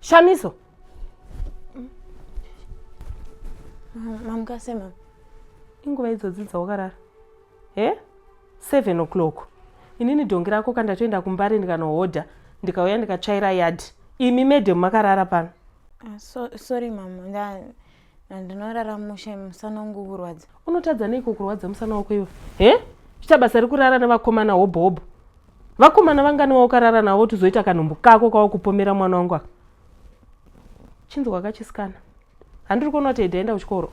Shamiso. Mamukase mama. Inguva idzodzi dzawakarara. He? Eh? 7 o'clock. Inini dongi rako kandatoenda kumbare ndikanohodha ndikauya ndikatsvaira yard. Imi madam makarara pano. Uh, so, sorry mama. Nda Ndinorara mushe musana wangu kurwadza. Unotadza neiko kurwadza musana wako iwe? He? Chita basa rekurara nevakomana hobho hobho. Vakomana vangani waukarara navo tuzoita kanhumbu kako kawakupomera mwana wangu aka. Chinzi wakachisikana. Handiri kuona kuti Edi aenda kuchikoro.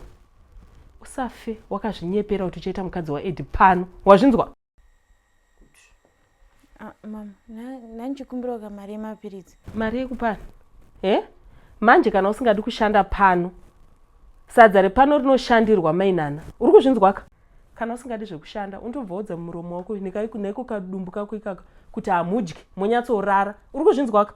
Usafe wakazvinyepera kuti uchaita mukadzi waEdi pano. Wazvinzwa? Ah, mama nandichikumbirawo ka mari yemapiritsi mari yekupana e eh? manje kana usingadi kushanda pano sadza repano rinoshandirwa mainana uri kuzvinzwaka kana usingadi zvekushanda undobvaudza muromo wako neko kadumbu kako ikaka kuti hamudyi monyatsorara uri kuzvinzwaka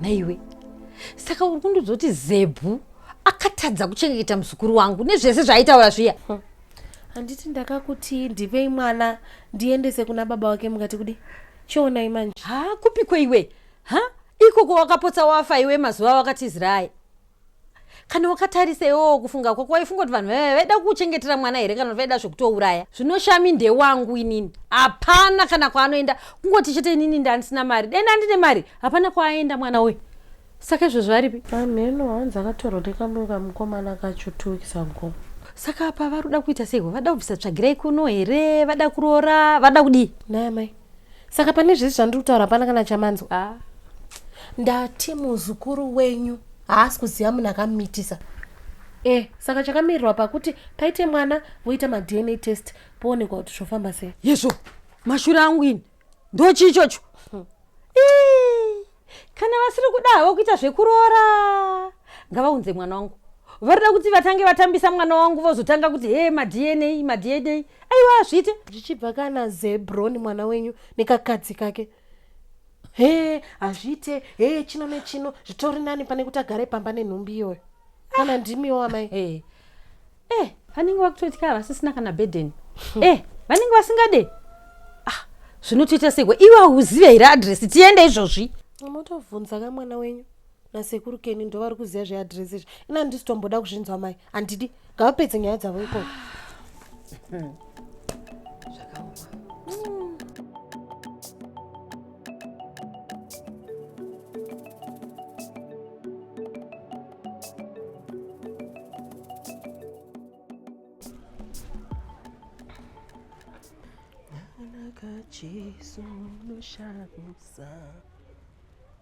naiwe saka uri kundidzoti zebhu akatadza kuchengeta muzukuru wangu nezvese zvaaitaura zviya hm. handiti ndakakuti ndivei mwana ndiendese kuna baba wake mukati kudi chionai manje ha kupiko iwe ha ikoko wakapotsa wafa iwe mazuva wakatizirayi kana wakatarisa iwowo kufunga kwako waifunga kuti vanhu vaiva vaida kuchengetera mwana here kana kuti vaida zvekutouraya zvinoshami ndewangu inini hapana kana kwaanoenda kungoti chete inini ndandisina mari dai ndandine mari hapana kwaaenda mwana uyu saka izvo zvaripi amheno hanzi akatorwa nekamwe kamukomana kacho two weeks ago saka apa vari kuda kuita seiko vada kubvisa tsvagirai kuno here vada kuroora vada kudii naye mai saka pane zvese zvandiri kutaura hapana kana chamanzwa ah. ndati muzukuru wenyu haasi kuziva munhu akamumitisa e saka chakamirirwa pakuti paite mwana voita madna test poonekwa kuti zvofamba sei yezvo mashura angu ini ndochii ichocho hmm. kana vasiri kuda havo kuita zvekuroora ngavaunze mwana wangu varida kuti vatange vatambisa mwana wangu vozotanga kuti he madna madna aiwa hazviite zvichibva kana zebron mwana wenyu nekakadzi kake he hazviite he chino nechino zvitori nani pane kuti agare pamba nenhumbi iyoyo kana ndimiwo amai hey. eh vanenge vakutotya vasisina kana burden hmm. eh vanenge vasingade ah zvinotoita seko iwe auzive here adress tiende izvozvi motobvunza ka mwana wenyu nasekuru keni ndovari kuziva zveadress izvi ini handisi tomboda kuzvinzwa mai handidi ngavapedze nyaya dzavo ikoko hmm. Jesu unoshamisa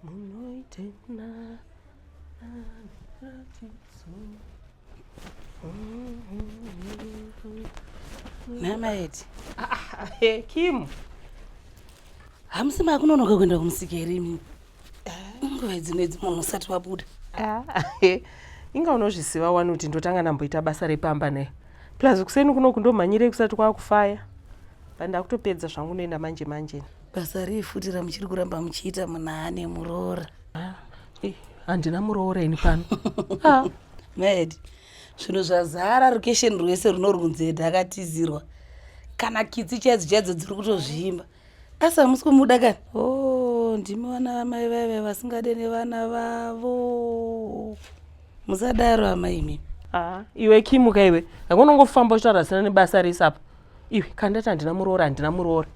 munoitena aniratidzo namaedi ah, ah, eh, kim hamusi makunonoka kuenda kumusika here imimi nguva dzino idzi munhu usati wabuda ah, inga unozviziva wani kuti ndotanga ndamboita basa repamba naye plus kuseni kuno kundomhanyirei kusati kwakufaya but ndakutopedza zvangu noenda manje manje basa rei futi ramuchiri kuramba muchiita munane muroora ah, eh, handina muroora ini pano ah. mad zvinhu zvazara rukesheni rwese runorunzeda akatizirwa kana kitsi chaidzo chaidzo dziri kutozvimba asi hamusi kumuda kani o oh, ndimi vana vamai vaive vasingade nevana vavo musadaro amai imimi ah, iwe kimuka iwe hanga unongofamba uchitaura zvisina nebasa rese apa iwe kandati handina muroora handina muroora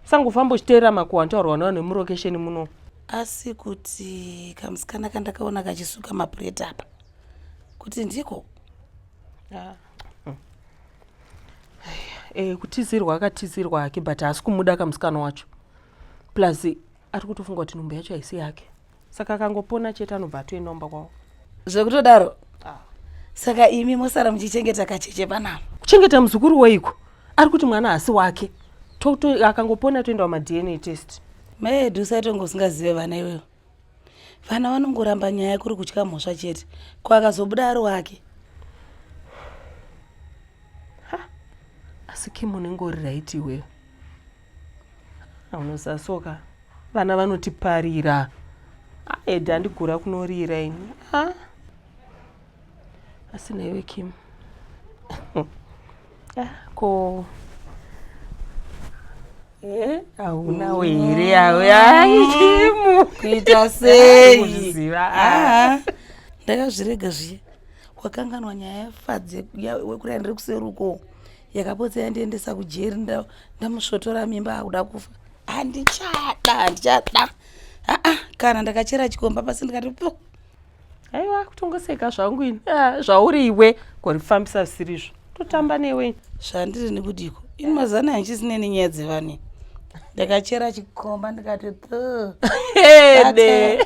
sangofamba uchiteerera makuwa antaurwa nawo nemurokesheni muno asi kuti kamusikana kandakaona kachisuka mapureti apa kuti ndiko ah. Eh, kutizirwa akatizirwa hake but haasi kumuda kamusikana wacho plus ari kutofunga kuti nhumbu yacho haisi yake saka akangopona chete anobva atoenda umba kwavo zvekutodaro ah. saka imi mosara muchichengeta kacheche panavo kuchengeta muzukuru weiko ari kuti mwana haasi wake akangopona toendawo madna test maedu saitongousingazive vana iwewo vana vanongoramba nyaya kuri kutya mhosva chete ko akazobuda ari wake asi kim unenge uri raiti iweyo unosasoka vana vanotiparira edi andigura kunorira ini ah. asi naiwe kim ah, ko eh, haunawo here aweaimu kuita seiziva ah. ah. ndakazvirega zviye wakanganwa nyaya yafadze wekurai ndiri kuseruko yakapotsa yandiendesa kujeri ndamusvotora mimba akuda kufa handichada handichada aa kana ndakachera chikomba pasi ndikati po aiwa kutongoseka zvangu ini ah, zvauri iwe korifambisa zvisirizvo totamba newe ini zvandiri nekudiko ini mazana handisine nenyaya dzevane ndakachera chikomba ndikati hede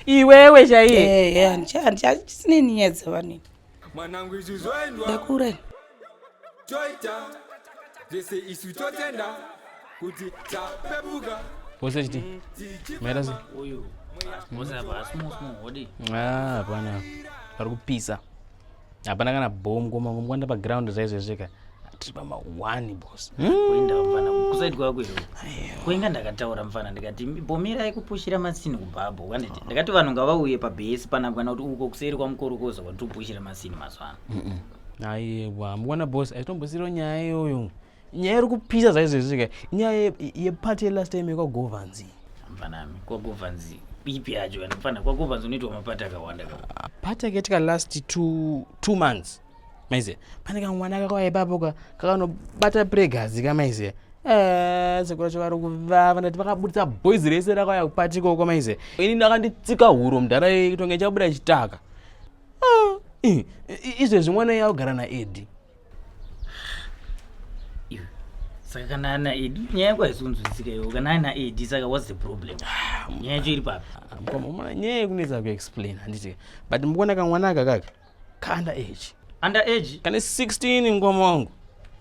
iwewe chaiye handisine nenyaya dzevane mwanangu izvi zvoendwa ndakurai toita zvese isu totenda kuti tapepuka vose chiti maita se uyu vose apa asi musmuhodi ah, hapana pari kupisa hapana kana bom komangomkwanda paground zvaizvezveka tiri pamawani bos kuenda mfana kusaidi kwako iro kuinga ndakataura mfana ndikati bomirai kupushira masini kubhabho kanditi ndakati vanhu ngavauye pabhesi panagwana kuti uko kuseri kwamukorokoza kwatikupushira masini mazuva ano ayewa mukwana boss aitombosiro nyaya iyoyo nyaya iri kupisa zvaizvezvika nyaya yepati yelast time yekwagovanzi mfanami kwagovanzi ipi yacho kana mfana kwagovanzi unoitwa mapati akawanda pati akatika last two, two months maiziya pane kamwana kakauya ipapo ka kakanobata pregazi ka maiziya eh, sekuru vacho vari kuvava ndati vakabudisa boys rese rakauya kupati ikoko maiziya ini ndakanditsika huro mudhara itonge chabuda chitaka Ah, izvezvi mwana iye augara naedi saka kana ana edi nyaya yako haisi kunzwisika iwo kana ana edi saka whats the problem ah, nyaya yacho iri papi mkomana nyaya yekunetsa kuexplain handiti but mukuona kamwana aka kaka kaanda age under age kane 16 mkoma wangu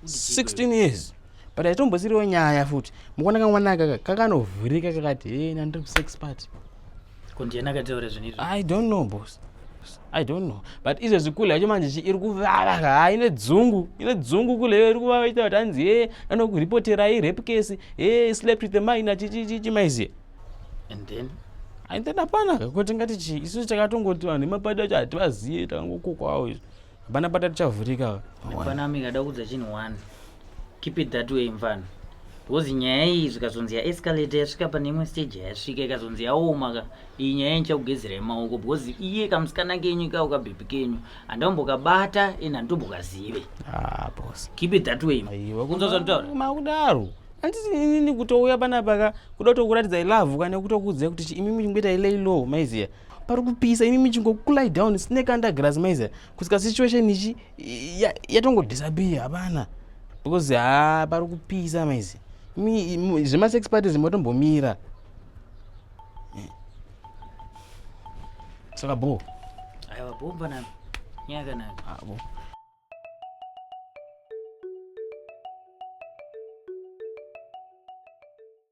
16 years but aitombosiriwo nyaya futi mukuona kamwana aka kakanovhurika kakati hena ndiri kusex party ko ndiyena akataura zvinhu izvi i don't know boss i don't know but izvezvi kule yacho manje chi iri kuvava haa ine dzungu ine dzungu kule iyo iri kuvava ichita kuti hanzi hee anokurepoterai rape case hee slept with the mine achichichichi maiziye and then and then hapana kuti ngati chii isu takatongoti vanhu vemapato acho hativazive takangokokwawo izvi Bana bata tichavhurika ava. Mfana wami kada kudza chinhu one. Keep it that way mfana. Because nyaya iyi zvikazonzi ya escalate yasvika pane imwe stage yasvika ikazonzi yaoma ka iyi nyaya ndichakugezera yemaoko because iye kamusikana kenyu ka ukabhebhi kenyu handambokabata and handitobokazive. Ah boss. Keep it that way. Aiwa kunzwa zvanditaura. Makudaro. Anditi inini kutouya panapa ka kuda kutokuratidza ilove kana kutokudza kuti imimi ngoita ilay low maiziya. pari kupisa imi muchingokulai down sine kandagrass maiza kusika situation ichi yatongodisappear hapana because ha pari kupisa maizi zvemasex parties motombomira eh. saka bo aiwa bo mfanami nyaya kanaka abo ah,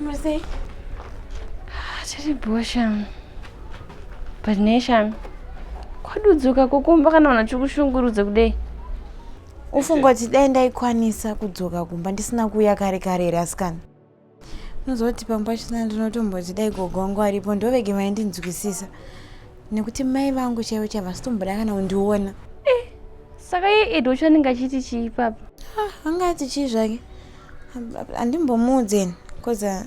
Mercy. Tiri bhuwa Shami. But ne Shami. Kwadudzuka kukumba kana unhu chikushungurudza kudei. Ufunga kuti dai ndaikwanisa kudzoka kumba ndisina kuuya kare kare here asikana? unozoti pamwe pachona ndinotomboti dai gogo wangu aripo ndovege vaindinzwisisa nekuti mai vangu chaivo chaivo vasitomboda kana kundiona eh, saka iye edo chanenge achiti chii papa ah, anga ati chii zvake handimbomuudzeni bcause ah,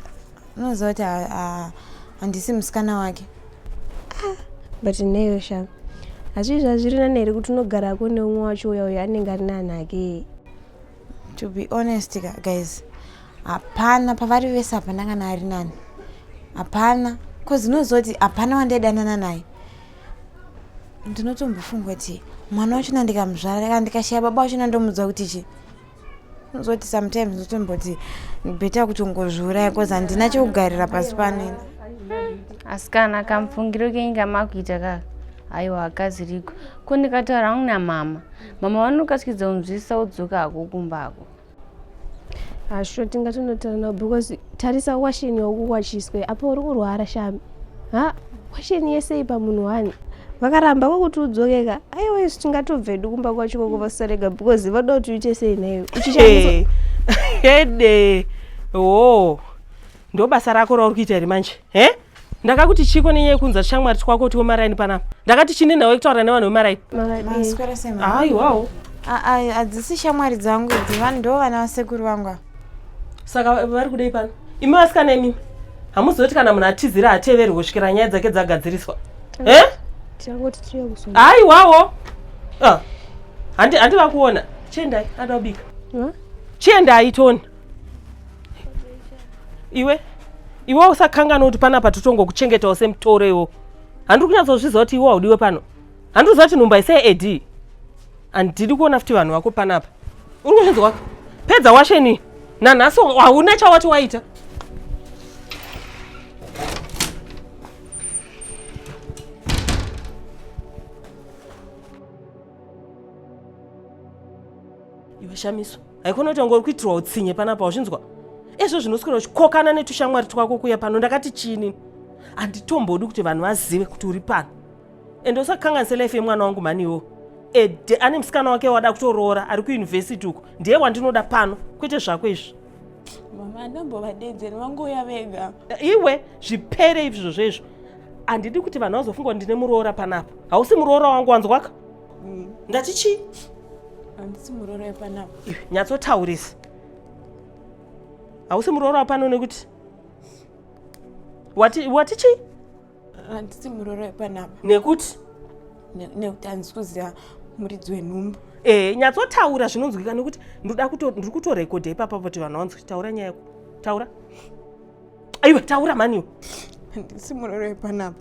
unoziva kuti ah, handisi musikana wake but neyo sha hazvii zvazviri nani here kuti unogarako neumwe wacho uya uyo anenge ari nani ake to be honest ka guys hapana pavari vese hapana kana ari nani hapana bcause unozoti hapana wandaidanana naye ndinotombofunga kuti mwana wachona ndikamuzvara kana ndikashaya baba wachona ndomudzwa kuti chi unozoti sometimes ndinotomboti beta kutongozviuraya bcause handina chekugarira pasi panena asikana kamufungiro kenyika makuita kaka aiwa akazirigwa ko ndikataura hangu namama mama vanokasikidza kunzwisisa wodzoka hako kumba hako hasho tingatonotara nao because tarisa washeni yaukuwachiswe apa uri kurwara shami ha washeni yese ipa munhu wani vakaramba kwakuti udzokeka aiwa isu tingatobvedu kumba kwacho kwakuvasorega because vada kuti uite sei naiwe uchishandisa hede hoo ndo basa rako rauri kuita here manje he ndakakuti chiko nenyaya yekunza shamwari twako kuti wemaraini panapa ndakati chine nhau yekutaura nevanhu vemaraini aiwawo hadzisi shamwari dzangu idzi vanhu ndo vana vasekuru vangu ava saka vari kudei pano imi vasikana imimi hamuzoti kana munhu atizira hateveri kusvikira nyaya dzake dzagadziriswa eh? aiwawo ah. handi vakuona chiendai ada kubika chiendai toni iwe iwe usakanganwa kuti panapa totongokuchengetawo semutoro iwo handiri kunyatsozviziva kuti iwe haudiwe pano handiri kuziva kuti nhumba isei ad handidi kuona futi vanhu vako panapa unonzwa pedza washeni nanhasi hauna chawati waita iwe shamiso haikona kuti wanga uri kuitirwa utsinye panapa wazvinzwa ezvo zvinoswera uchikokana netushamwari twako kuya pano ndakati chini handitombodi kuti vanhu vazive kuti uri pano ende usakanganise life yemwana wangu maniwo ede ane musikana wake wada kutoroora ari kuyunivhesiti uko ndiye wandinoda pano kwete zvako izvi mama andambovadedzeri vangouya vega iwe zvipere izvo zvezvo handidi kuti vanhu vazofunga kuti ndine muroora panapa hausi muroora wangu wanzwaka mm. ndati chii handisi muroora wepanapa nyatsotaurisa hausi muroora wapano nekuti wati wati chii handisi muroora wepanapa nekuti nekuti handisi kuziva muridzi wenhumbu ee eh, nyatsotaura zvinonzwika nekuti ndoda ndiri kutorekodha ipapa kuti vanhu vanzwa taura nyaya yako taura aiwa taura mani handisi muroora wepanapa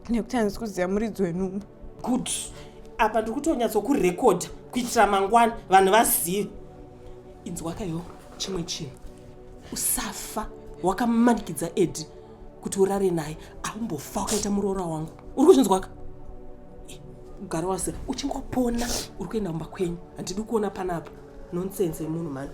nekuti handisi kuziva muridzi wenhumbu good apa ndiri kutonyatsokurekodha kuitira mangwana vanhu vazive inzwakayo chimwe chinhu usafa wakamanikidza edi kuti urare naye aumbofa wakaita muroora wangu uri kuzvinzwaka gara wase uchingopona uri kuenda kumba kwenyu handidi kuona panapa nonsense yemunhu mani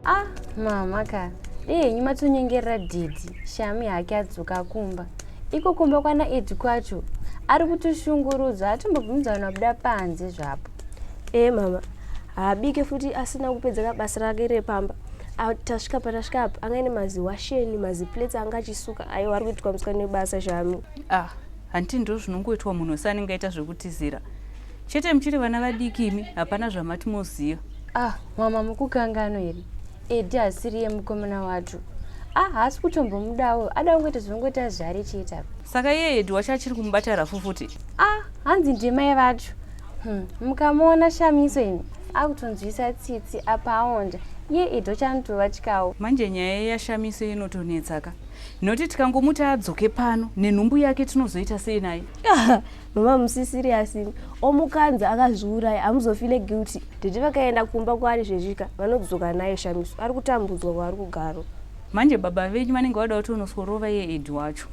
ah mama ka dei henyu matonyengerera dhidhi shami hake adzoka kumba iko kumba kwana edi kwacho ari kutoshungurudzwa atombobvumidza vanhu vabuda panze zvapo ee mama haabike futi asina kupedza ka basa rake repamba tasvika patasvika apa anga ine maziwasheni maziplates anga achisuka aiwa ari kuitwa musika nebasa shami ah Hanti ndozvinongoitwa munhu wese anenge aita zvekutizira chete muchiri vana vadiki imi hapana zvamati moziva ah mama mukukangano here edi hasiriye mukomana wacho ah haasi kutombomudawo ada kungoita zvinongoti azvare chete apa saka iye edi wacho achiri kumubata rafu futi ah hanzi ndimai vacho hmm, mukamuona shamiso imi akutonzwisa tsitsi apa aonda iye edi wachanotova chikawo manje nyaya yashamiso inotonetsaka Noti tikangomuti adzoke pano nenhumbu yake tinozoita sei naye? Mama musi serious imi. Omukanza akazviuraya hamuzofile guilty. Tete vakaenda kumba kwaari zvezvika vanodzoka naye Shamiso ari kutambudzwa kwaari kugaro. Manje baba venyu vanenge vada kuti unosworova iye Ed wacho.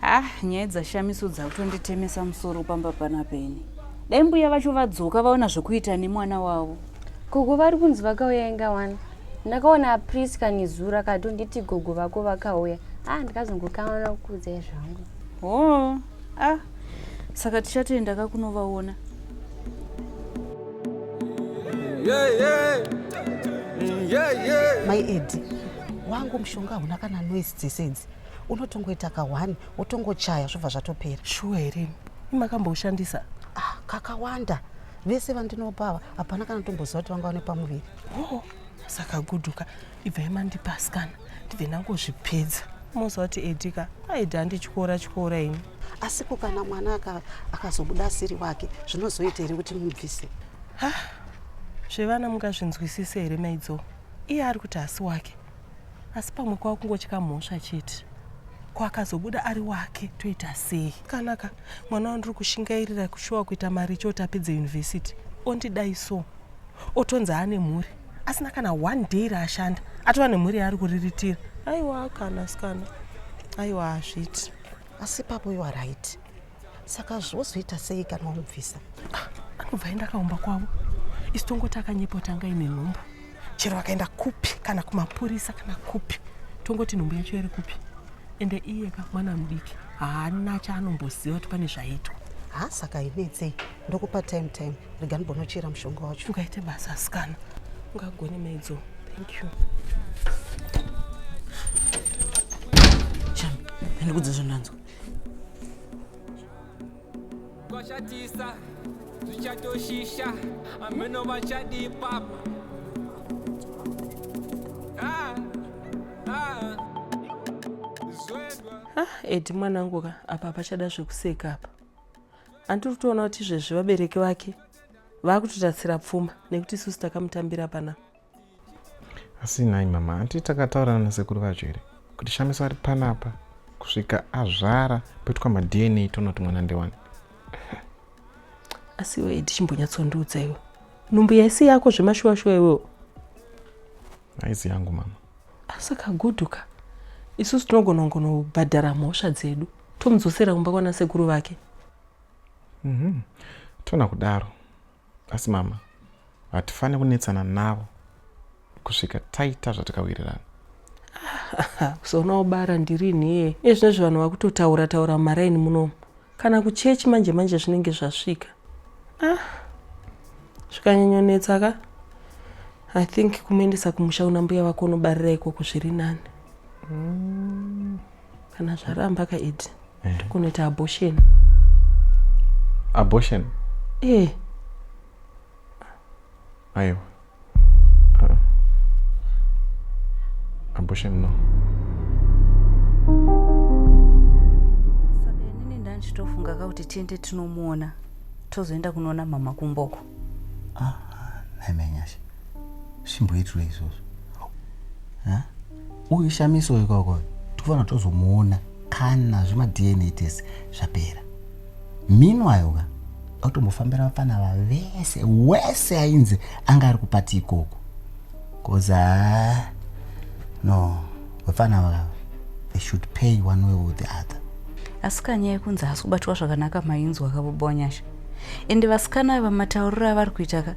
Ah, nyaya dzaShamiso dzakutonditemesa musoro pamba panapa ini. Dai mbuya vacho vadzoka vaona zvekuita nemwana wavo. Gogo vari kunzi vakauya inga wani. ndakaona prisca nezura katonditi gogo vako vakauya a ah, ndikazongokaona kukuudzai zvangu o oh, a ah, saka tichatoenda ka kunovaona mai edi wangu mushonga hauna kana noise dzese idzi unotongoita ka one wotongochaya zvobva zvatopera shuwa here imakamboushandisa ah, kakawanda vese vandinopa ava hapana kana tomboziva kuti vanga vane pamuviri oh saka guduka ibvai mandipaskana ndibve ndangozvipedza moziva kuti edika aida andityora tyora ini asiko kana mwana akazobuda asiri wake zvinozoita here kuti mubvise ha zvevana mungazvinzwisise here maidzo iye ari kuti hasi wake asi pamwe kwava kungotya mhosva chete ko akazobuda ari wake toita sei kanaka mwana wandiri kushingairira kushuwa kuita mari choti apedze yunivhesiti ondidai so otonzi aane mhuri asina kana one day raashanda atova nemhuri yaari kuriritira aiwa kana sikana aiwa hazviti asi papo iwa right saka zvozoita sei kana wamubvisa ah, anobva aenda akaumba kwavo isu tongoti akanyepa kuti anga ine nhumbu chero akaenda kupi kana kumapurisa kana kupi tongoti nhumbu yacho iri kupi ende iye ka mwana mudiki haana chaanomboziva kuti pane zvaitwa ha saka inetsei ndokupa time time rega ndibonochera mushonga wacho ungaite basa asikana ungagone maidzo thank you chami andikudza zvandanzwa kwashatisa zvichatoshisha ameno vachadii papa ah, ah. zwedwa ah edi mwanangu ka apa pachada zvekuseka apa andiri kutoona kuti izvezvi vabereki vake vaakutotatsira pfuma nekuti isusu takamutambira pana asi nhai mama hanti takataurana nasekuru vacho here kuti shamiso ari panapa kusvika azvara poitwa madna tonoti mwana ndewani asi iwe edi chimbonyatsondiudza iwe nhumbu yaisi yako zvemashuwashuwa iwewo haizi yangu mama asaka guduka isusu tinogona kungonobhadhara mhosva dzedu tomudzosera kumba kwanasekuru vake mm -hmm. tona kudaro Asi mama, hatifanire kunetsana navo kusvika taita zvatakawirirana. Sona ubara ndirinhiye ezvinezvi vanhu vakutotaura taura mumaraini munomu kana kuchechi manje manje zvinenge zvasvika ah. zvikanyanyonetsa ka i think kumuendesa kumusha una mbuya vako unobarira ikoko zviri nani mm. kana zvaramba ka ed eh. kunoita abortion abortion eh aiwa ah. abortion no saka inini ndanchitofunga ka kuti tiende tinomuona tozoenda kunoona mama kumboko ah, nhai manyasha zvimboitirwa izvozvo uyu shamiso uyu koko tikufanira tozomuona kana zvemadna tese zvapera minwayo ka autombofambira vapfana vavese wese ainzi anga ari kupati ikoko bcoz ah, no vapfana vava they should pay one way or the other asi kanyaya kunzi haasi kubatwa zvakanaka mainzwa kavo bonyasha ende vasikana ava matauriro avari kuita ka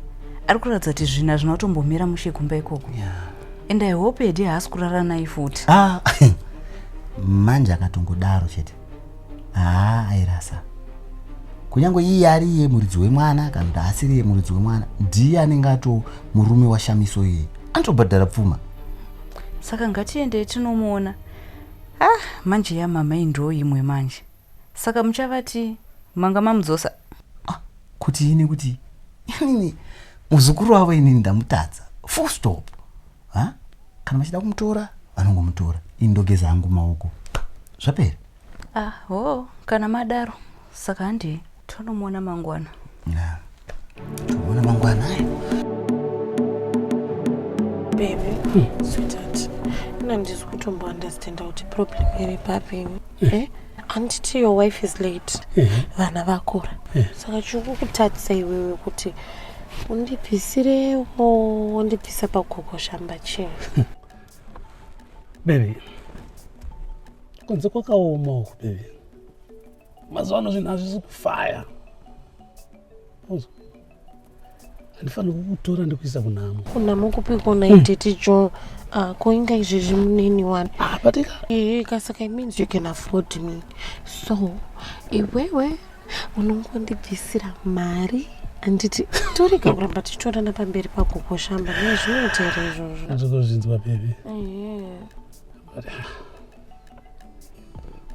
ari kuratidza kuti zvinhu hazvina kutombomira mushe kumba ikoko and i hope hedi haasi kurara naye futi ah, manje akatongodaro chete haa airasa kunyange iye ari iye muridzi wemwana kana kuti haasiri iye muridzi wemwana ndiye anenge ato murume washamiso iye anotobhadhara pfuma saka ngatiende tinomuona ah manje yamama indoo imwe manje Saka muchavati manga mamudzosa? Ah, kuti ini kuti inini muzukuru wavo inini ndamutadza full stop ha kana vachida kumutora vanongomutora ini ndogeza hangu maoko zvapera ah, oh, kana madaro saka handii tonomuona mangwana yeah. tomuona mangwana baby hmm. sweetheart ina ndisi kutombounderstanda kuti problem iri papini hmm. eh? handiti your wife is late hmm. vana vakura hmm. saka chiri kukutatisa iwewe kuti undibvisirewo undibvisa pagogo shamba chii hmm. baby kunze kwakaoma uku baby mazuva ano zvinhu hazvisi kufaya handifanira kukutora ndikuisa kunhamo kunhamo kupi kona hmm. itete jo ah, ko inga izvezvi munini wani ah, batika ee kasaka means you can afford me so iwewe unongondibvisira mari handiti torega kuramba tichitorana pamberi pagogoshamba nezvinoitera izvozvo ndiri kuzvinzwa bebe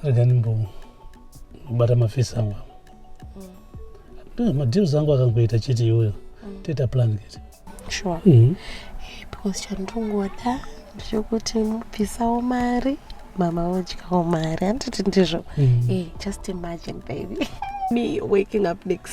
rega ndimbobata mafesi angu avo mm. madeals angu akangoita chete iyoyo mm. toita plan kete sure mm-hmm. eh, because chandongoda ndechekuti mubvisawo mari mama vodyawo mari handiti ndizvo mm. eh, just imagine baby me waking up next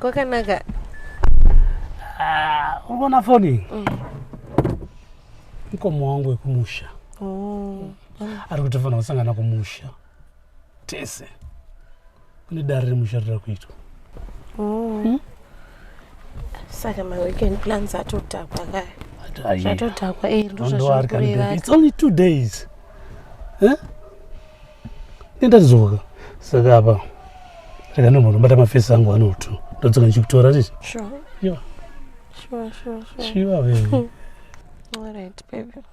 kwakanaka ah, uri kuona foni mm. mukoma wangu wekumusha oh. ari kutofanira kusangana kumusha tese kune dare remusharira kuitwa oh. hmm? saka maweekend plans atodhakwa kaya zvatodhakwa e eh, ndozvazvikurevaits only two days eh? nendatizoka saka apa rega nomhono bata mafesi angu anotu ndodzoka ndichikutora titi sure sure sure sure sure baby all right baby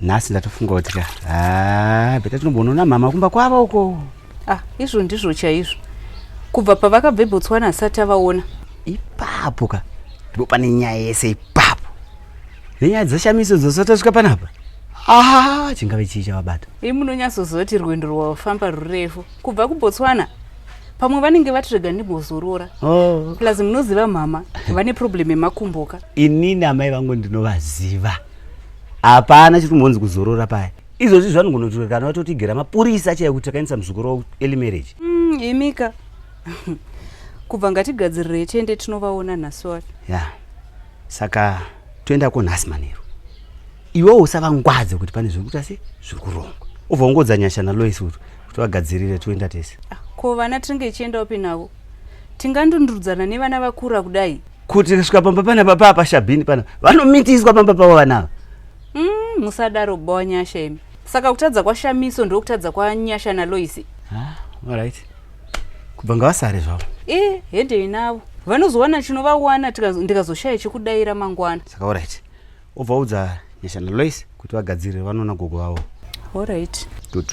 nhasi ndatofunga kuti ka haa beta tinombonoona mhama kumba kwava uko ah izvo ndizvo chaizvo kubva pavakabva ebotswana asati avaona ipapo ka ndipo pane nyaya yese ipapo nenyaya dzashamiso dzosati asvika panapa aa chingave chii chavabata i munonyatsoziva kuti rwendo rwavafamba rurefu kubva kubotswana pamwe vanenge vati rega ndimbozorora oh. plus munoziva mhama vane problem yemakumboka inini amai vangu ndinovaziva hapana chiri kumbonzi kuzorora paya izvozvi zvanongonotuka kana vatotigera mapurisa achaya kuti takaendesa muzukuru wavo eli marriage mm, imika kubva ngatigadzirire tiende tinovaona nhasi wari ya saka toenda ko nhasi manheru iwewo usavangwadze kuti pane zviri kuita se zviri kurongwa ubva ungodza nyasha nalois uto kuti vagadzirire toenda tese ah, ko vana tinenge ichienda upi navo tingandundurudzana nevana vakura kudai kuti kasvika pamba pana papa apa shabhini pana vanomitiswa pamba pavo vana ava mm, musadaro bhowa nyasha imi saka kutadza kwashamiso ndokutadza kwanyasha naloisi ah, right kubva ngavasare zvavo e eh, hedei navo vanozowana chinovawana ndikazoshaya chekudaira mangwana saka orit Ovaudza Nyasha naLois kuti vagadzirire vanoona gogo vavo. All right. Good.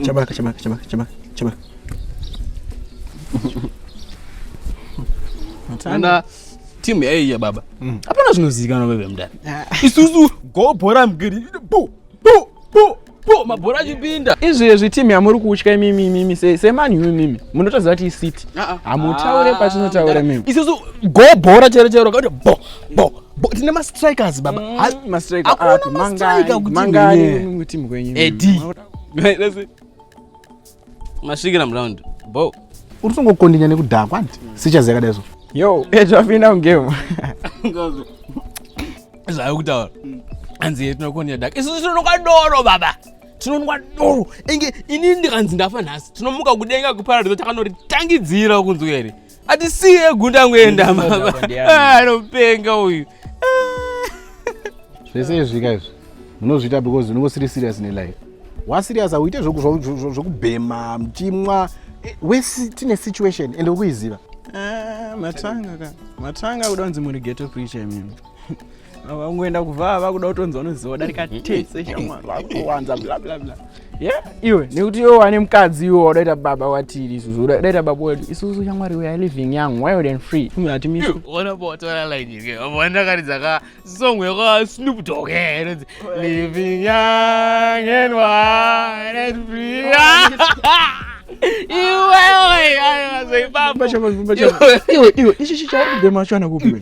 Chabaka, chabaka, chabaka, chabaka, chabaka. Tanda timu yaiya baba. Mm. Hapana zvinozivikanwa veve mdani. Ah. Isusu go bhora mgiri. Bo, bo, bo. po mabhora achipinda izvi izvi team yamuri kutya imimi imimi sei semani yu imimi munotoziva kuti isiti ah, ah. hamutaure ah, patinotaure mimi isisu go bhora chero chero kakuti bo bo bo tine mastrikers baba mm. mastrikerakuti mangani mangani timu kwenyu edi masvikira muround bo uri kutongokondinya nekudhakwa hanti sichas yakadai so yo zvapinda mugame zvayo kutaura hanzi ye tinokondinya dak isu tinonwa doro baba tinonwa doro inge inini ndikanzi ndafa nhasi tinomuka kudenga kuparadiso takanotitangidzira kunzwa here atisiye gunda angoenda ah, anopenga uyu zvese izvika izvi munozviita because unenge usiri serious nelife waserious auite zvekubhema muchimwa eh, wesi tine situation ende ukuiziva ah, matanga ka matanga kuda kunzi muri geto preacher imimi vangoenda kuvaa vakuda kutonzi vanoziva darika tese shamwari vakuwanza blablabla ye iwe nekuti iwe wane mukadzi iwe wadaita baba watiri isusu udaita baba wedu isusu shamwari we are living young wild and free umeatimisa ona botora line yake avo ndakaridza ka song yaka snoop dog eh, inonzi living young and wild and free iwe oye ayo azoibamba iwe iwe iwe ichichi chauri kudema chana kupi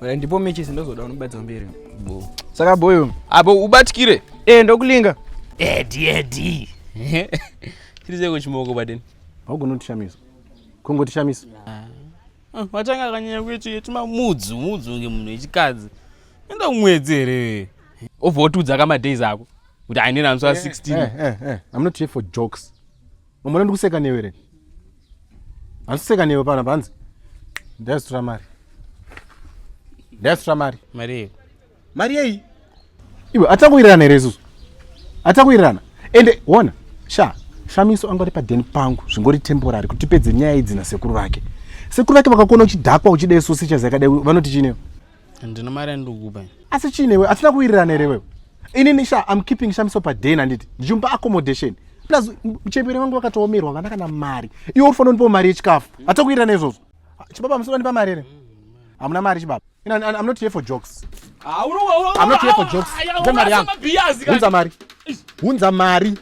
Wala ndipo mechi sindozoda unobadza mberi. Bo. Saka boyo. Abo ubatikire. Eh ndokulinga. Edi edi. Chirize ko chimoko baden. Haugona kutishamisa. Kongo tishamisa. Ah. Ah, watanga kanyanya kuita yetima mudzu mudzu nge munhu wechikadzi. Enda kumwedzi here. Ovotudza kama days ako. Kuti ainena anzwa 16. Eh eh eh. I'm not here for jokes. mamona ndikuseka newe re handikuseka newe pana panzi ndaizotora mari ndaizotora mari mari yei mari yei iwe atakuwirirana here isusu atakuwirirana ende wona sha shamiso angori padeni pangu zvingori temporary kuti tipedze nyaya idzi nasekuru vake sekuru vake vakakuona uchidhakwa uchida isusu ichazakadai vanoti chinewo Ndino mari yandikupa. Asi chii newe? Atina kuwirirana here wewe? Ini Nisha I'm keeping Shamiso pa den handiti? Ndichimupa accommodation. Plus mchembere wangu wakatoomerwa vana kana mari. Iwe uri fanira mari yechikafu. Mm. Atina kuwirirana izvozvo. Ah, chibaba musoro ndipa mari here? Hamuna mari chibaba. Ina I'm not here for jokes. Ah, I'm not here for jokes. Ndipa mari yangu. Hunza mari. Hunza mari.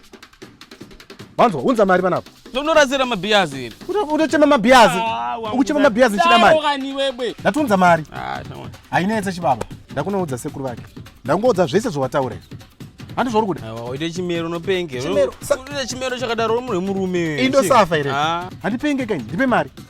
Wanzwa, hunza mari panapa. Tonorasira mabhiyazi iri. Unochema mabhiyazi. Ah, Ukuchema mabhiyazi chida mari. Kani wewe. Ndatunza mari. Ah, shama. Hainetse chibaba. Ndakunoudza sekuru vake. Ndakungoudza zvese zvawataura. Handi zvauri kuda. Awa waita chimero unopenge. Chimero. Chimero chakadaro uri murume. Indosafa iri. Ah. Handipenge kani. Ndipe mari.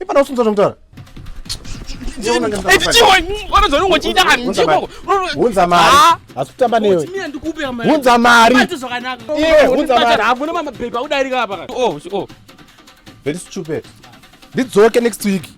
ipana usunza zvomutaura hunza mari hasi kutamba newe hunza mari iwe hunza mari hakuna mamapepa udarika apa oh, oh. very stupid ndidzoke next week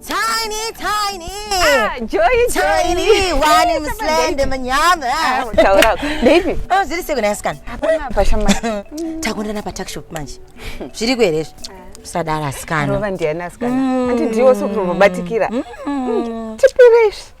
Tiny, tiny. Ah, Joy, tiny. Wani mslende manyama. Ah, utaura. Baby. Oh, ziri siku nayasikana. Hapana pasha manje. Takundana pa tuck shop manje. Zviri ku here izvi? Ah. Sadara asikana. Rova ndiani asikana? Mm. Ati ndiwo sokubatikira. Mm. Mm. Tipire izvi.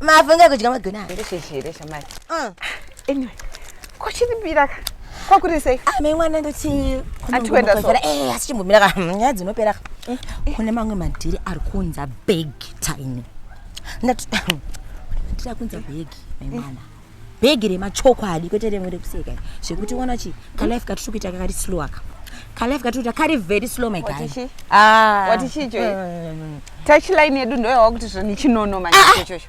mafunge kudya magona ndishishire shamai uh. anyway kochiripira ka kwakuri sei ame ah, mwana ndotiatiendasoe eh, asichimbomira ka hmm, nyaya dzinopera ka eh, eh. kune mamwe madhiri ari kunza big time ndati madhiri akunza big maimwana bhegi remachokwadi kwete remwe rekuseka zvekuti uona chi kalife katiri kuita kakari slow aka kalife katiri kuita kari very slow my guy ah. wati chicho mm. touch line yedu ndoyawa kuti zvoni chinono manje ah, ah. chocho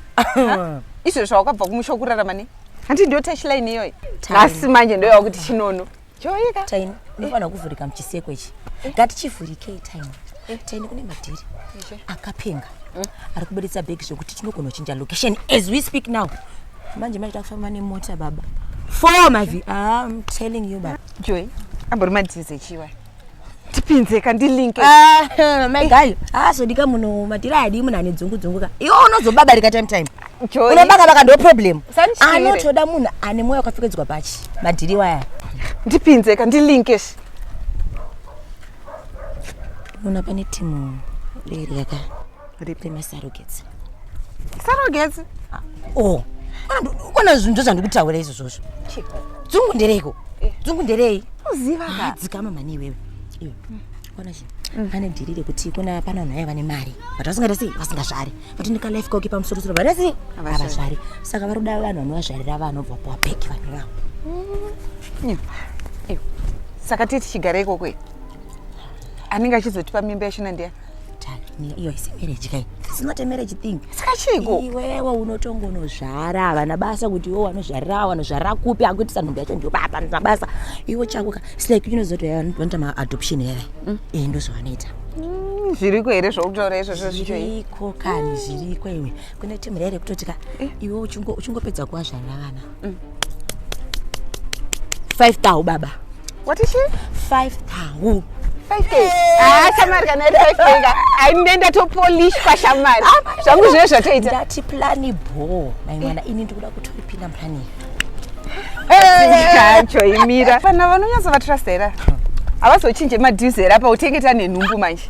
izvo zvawakabva kumusha kurarama ne hanti ndo touch line iyoyi nhasi manje ndoyawa kuti chinono Choika. Taini, unofanira kuvhurika muchiseko ichi. Eh. Ngatichivhurikei Taini. Eh. Taini kune madhiri. Akapenga. Hmm? Ari kuburitsa bag zvekuti tinogona kuchinja location as we speak now. Manje manje takufamba nemota baba. Four mavi. Ah, I'm telling you baba. Joy, ambori madhizi echiwa. ndipinze ka ndilinke ah, mai gayo haazodika ah, muno matira ayadii munhu ane dzungu dzungu ka iwo unozobabarika time time unobaka baka ndo problem anotoda munhu ane mwoyo wakapfekedzwa pachi madhiri waya ndipinze ka ndilinke munhu apa netimu leriyaka ripi masarogets sarogets oh ukona zvinhu ndozvandiri kutaura izvozvozvo dzungu ndereiko eh. dzungu nderei uziva ah, dzikama mhani iwewe iwe kona chii pane mm. dhiri rekuti kuna pana vanhu vaya vane mari but vasingaita sei vasingazvari vati ndikalife koki pamusorosoro vaita sei havazvari saka vari kuda vanhu vanovazvarira vana obva kuwa bheki vanhu vavo mm. saka tii tichigara ikoko anenge achizotipa mimba yachina ndiya iyo isi marriage kai it's not a marriage thing saka chiiko iwewe unotongonozvara havana basa kuti iwe wanozvarira wanozvarira kupi akuitisa nhumbi yacho ndiyo baba ndina basa iwe chako ka it's like you know zoti vanoita maadoption here mm. eh ndozvavanoita mm, zviriko here zvokutaura izvozvo zviriko kani zviriko iwe kune timu here kutoti ka eh. iwe uchingopedza kuvazvarira vana mm. five tau baba what is she five tau aindienda topolishwa shamari zvangu zvive zvatoita ndati plani bho mai mwana ini ndikuda kutoipinda plani yacho imira vana vanonyatso vatrust hera havazochinje madues hera pautengeta nenhumbu manje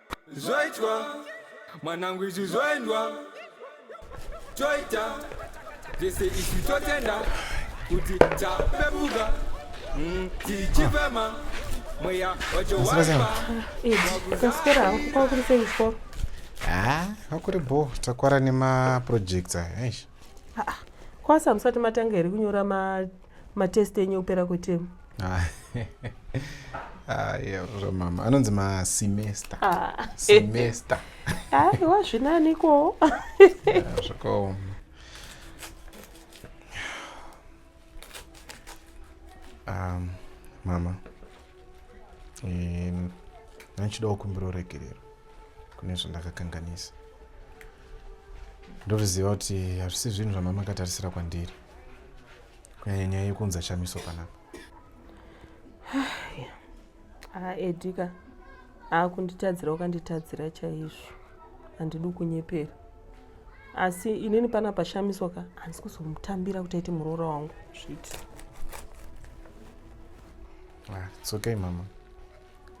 zvaitwa mwanangu izvi zvoendwa toita zvese izvi totenda kuti tapepuka mm, tichifema mweya wacho waipa kasikera hangu kwakuri sei kuchikoro ha kwakuri bo takwara nemaprojects aya eish kwasamusati matanga here kunyora matest enyu ekupera kwetemu ah. zvamama ah, anonzi masemester ah. semester aiwa zvinaniko zvakaoma um, mama ndinochidawo kumbira uregerero kune zvandakakanganisa ndoruziva kuti hazvisi zvinhu zvamama akatarisira kwandiri kunyanya nyaya yekunza shamiso panapa haa edika aakunditadzira wakanditadzira chaizvo handidi kunyepera asi inini pana pashamiswa ka handisi kuzomutambira kuti aiti muroora wangu zviti ah, it's okay mama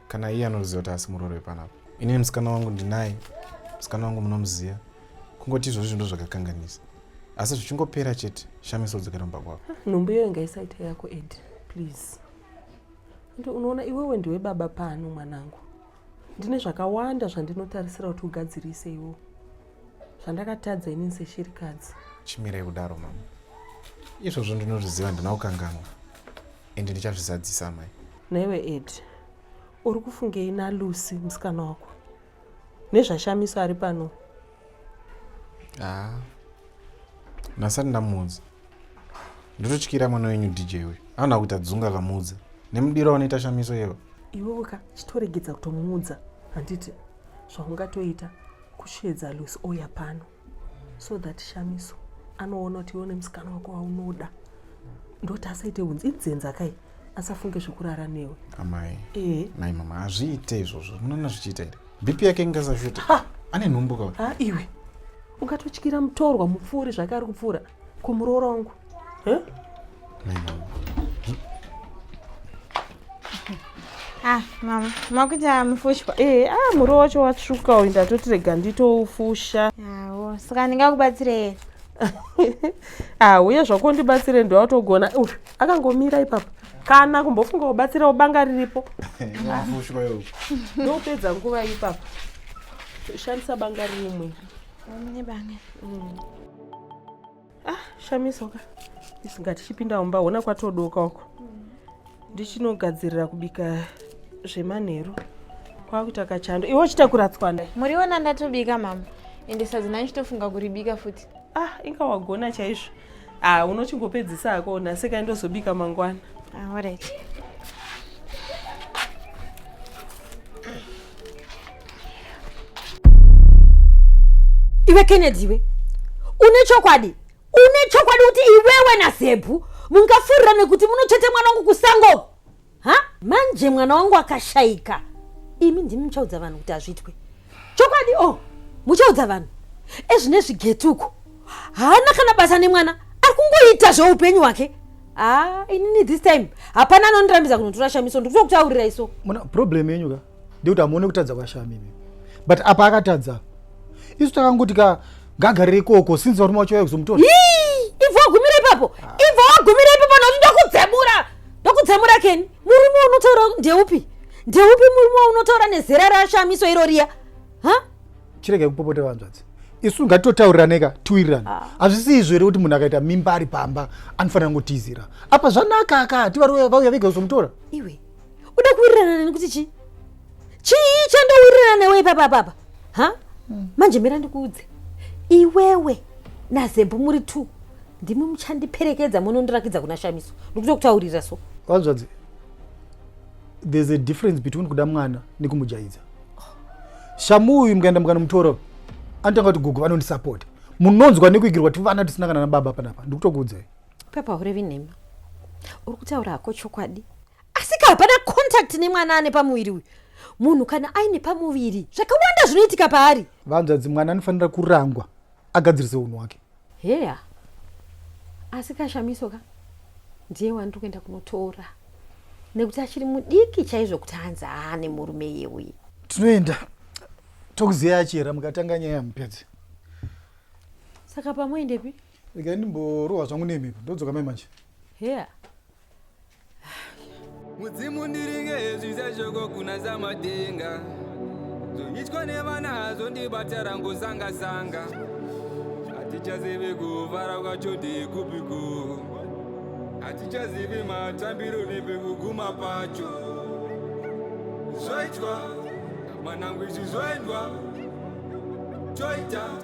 kana iye anoziva kuti asi muroori wepanapa inini musikana wangu ndinaye musikana wangu munomuziva kungoti izvozvo zvindo zvakakanganisa asi zvichingopera chete shamiso dzokera mumba kwako ah, nhumbu iyoyo ngaisaita yako ed please ende unoona iwewe ndiwe baba pano mwanangu ndine zvakawanda zvandinotarisira kuti ugadzirise iwo zvandakatadza inini seshirikadzi chimirei kudaro mama izvozvo ndinozviziva ndina kukanganwa and ndichazvizadzisa amai newe ed uri kufungei nalucy musikana wako nezvashamiso ari pano ah. nasati ndamuudza ndototyira mwana wenyu dj uyu anoda kuita dzunga kamuudza nemudiro wanoita shamiso yevo iwewe ka chitoregedza kutomuudza handiti zvaungatoita kusheedza lucy ouya pano so that shamiso anoona kuti iwe nemusikana wako waunoda ndoti asaite hunzi inzenza kai asafunge zvekurara newe amai e. nai mama hazviite izvozvo munoona zvichiita here bp yake ingasashuta ane nhumbu ka iwe ungatotyira mutorwa mupfuuri zvake ari kupfuura kumuroora wangu Huh? Ah, mama makuita mufushwa eh, ah, muriwo wacho watsvuka uyu ndatoti rega nditoufusha awo saka ndingakubatsirei ah uye zvako ndibatsire ndiwatogona uh, akangomira ipapa kana kumbofunga kubatsira ubanga riripo ndopedza nguva ipapa shandisa banga rimwe mm. ah shamisa ka isinga tichipinda mumba hona kwatodoka uko ndichinogadzirira kubika zvemanheru kwakuita kachando iwe uchitakura tswanda muriona ndatobika mama ende sadzi nani chitofunga kuribika futi ah inga wagona chaizvo ah unochingopedzisa ako nhasi kai ndozobika mangwana ah, alright iwe kennedy iwe une chokwadi une chokwadi kuti iwewe nazebhu mungafurira nekuti munochete mwana wangu kusango ha manje mwana wangu akashaika imi ndimi muchaudza vanhu kuti hazviitwe chokwadi o oh, muchaudza vanhu ezvine zvigetuko haana kana basa nemwana ari kungoita zveupenyu hwake haa ah, inini this time hapana anondirambidza kunotora shamiso ndikutokuchaurira iso muna problem yenyu ka ndikuti hamuone kutadza kwashami imi but apa akatadza isu takangoti ka ngagarire ikoko sinzi varume vacho vaya kuzomutora ibva wagumira ipapo ibva wagumira ipapo nokuti ndokudzemura ndokudzemura keni murume unotaura ndeupi ndeupi murume unotaura nezera rashamiso iro riya ha chirege kupopota vanzvadzi isu ngatitotauriraneka tiwirirane ah. hazvisi izvo here kuti munhu akaita mimba ari pamba anofanira kungotizira apa zvanaka aka tivaruya vauya vega kuzomutora iwe uda kuwirirana neni kuti chii chii chandowirirana newe ipapa papa ha hmm. manje mira ndikuudze iwewe nazembo muri two ndimi muchandiperekedza munondirakidza kuna shamiso ndikuto kutaurira so vanzvadzi there's a difference between kuda mwana nekumujaidza shamu uyu mukaenda mukanomutora anotanga kuti gugu vanondisapota munonzwa nekuigirwa tivana tisina kana nababa panapa ndikutokuudzai Pepa hurevi nhema. Uri kutaura hako chokwadi. Asika hapana contact nemwana ane pamuviri uyu. Munhu kana aine pamuviri zvakawanda zvinoitika paari. Vanzvadzi mwana anofanira kurangwa agadzirise unhu wake. Heya. Asika shamiso ka. Ndiye wandiri kuenda kunotora. Nekuti achiri mudiki chaizvo kuti hanzi aane murume yeuye. Tinoenda. Tokuziya achera mukatanga nyaya mupedze. Saka pamoendepi? Regai ndimborohwa zvangu nemhepo ndodzoka mai manje. Here. Mudzimu ndiringe zvisashoko kuna zamatenga zvoitwa nevana zvondibata rangu zanga zanga hatichazivi kuvara kwacho ndikupiko hatichazivi matambiro nepekuguma pacho zvoitwa mwanangu izvi zvoendwa toita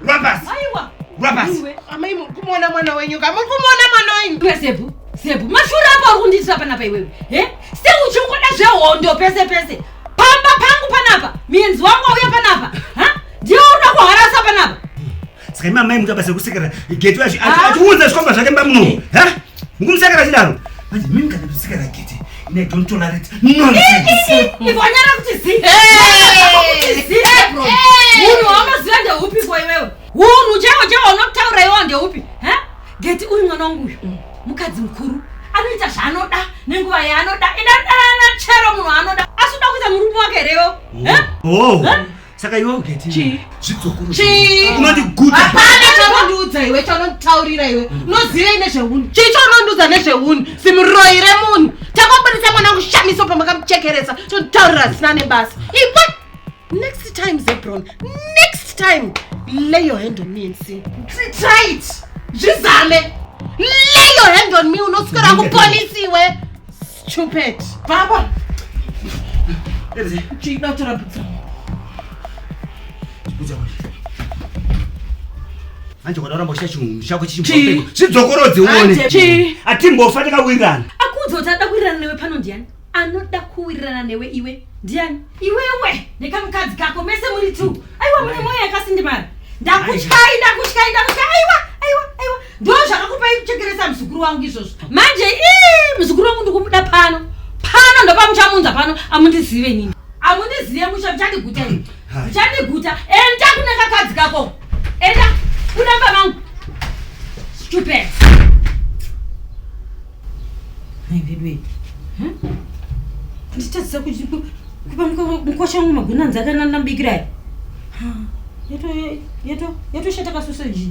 Rwa pasi. Aiwa. Rwa pasi. Iwe amai muri kumuona mwana wenyu ka muri kumuona mwana wenyu. Iwe Zebu. Zebu mashura apa uri kundiitira panapa iwewe. He? Se uchingoda zvehondo pese pese. Pamba pangu panapa. Mienzi wangu auya panapa. Ha? Ndiwe unoda kuharasa panapa. Saka imamai mukabasa kusekera. Getu achi achi achiunza zvikomba zvake mbamuno. Ha? Mukumusaka kachidaro. Manje mimi kana kusika na gete. Ine don't tolerate nonsense. Ivonyara kuti zi. Kuti zi bro. Munhu wamaziva ndeupi kwa iwewe? Hunhu chaiwo chaiwo unotaura iwo ndeupi? Eh? Gete uyu mwana wangu uyu. Mm. Mukadzi mukuru anoita zvaanoda nenguva yaanoda enda danana chero munhu anoda asi uda kuita murume wake rewo oh. Eh? Oh. Eh? Saka iwe ugeti. Chii? Zvidzokuru. Chii? Unoti good. Hapana chaunondiudza iwe chaunonditaurira iwe. Mm. Unoziva ine zvehuni. Chii chaunondiudza nezvehuni? Simuroi remunhu. Takabudisa mwana kushamisa pamakamuchekeresa. Chonditaurira zvisina nebasa. Iwe next time Zebron. Next time lay your hand on me and see. Try it. Zvizame. Lay your hand on me unoswera kupolisi iwe. Stupid. Baba. Chida tora pizza. Pizza. Manje kona rambo shachu shaku chimbopeko. Chidzokorodze uone. Chi. Atimbofa takawirirana. Akudzo tada kuwirirana newe pano ndiani? Anoda kuwirirana newe iwe. Ndiani? Iwewe nekamukadzi kako mese muri two. Aiwa mune moyo yakasindimara. Ndakutyai, ndakutyai, ndakutyai. Aiwa. ndo zvakakupa chekeresa muzukuru wangu izvozvo manje ii muzukuru wangu ndikumuda pano pano ndopamuchamunza pano amundizive nini amundizive musha muchandiguta ini muchandiguta enda kune kakadzi kako enda kunamba vangu stupid Nhai veduwe. Hmm? Nditadzisa kuti kupa mukosha wangu magwina anzi akanana mbikira aya. Yato yato yato shata ka sausage.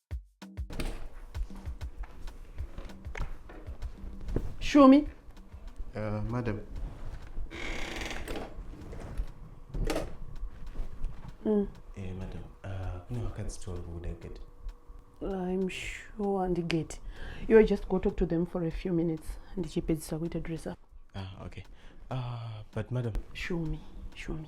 Shumi. Uh, madam. Mm. Eh, madam. Uh, kune vakadzi 12 kuda gate. I'm sure and gate. You just go talk to them for a few minutes. Ndichipedzisa kuita dress up. Ah, okay. Uh, but madam. Shumi, Shumi.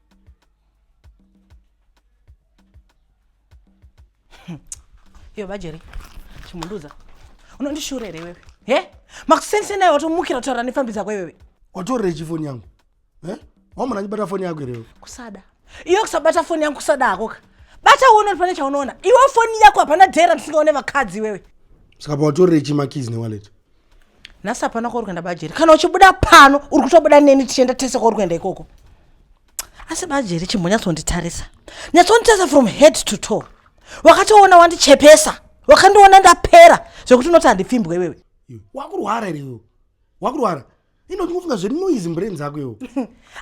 iyo bajeri chimunduza unondishura here iwewe he makusendise naye watomukira kutaura nefambi dzako iwewe watorechi foni yangu e wamona achibata foni yako here kusada iyo kusabata foni yangu kusada hakoka bata uone pane chaunoona iwe foni yako hapana dhera ndisingaone vakadzi iwewe saka pawatorechi makizi newaleti nhasi hapana kwauri kuenda bajeri kana uchibuda pano uri kutobuda neni tichienda tese kwauri kuenda ikoko asi bajeri chimbonyatsonditarisa nyatsonditarisa from head to toe wakatoona wandichepesa wakandiona ndapera zvekuti unoti handipfimbwe iwewe wakurwara here iwewe wakurwara ino ndikufunga zvenoise mbrain dzako iwo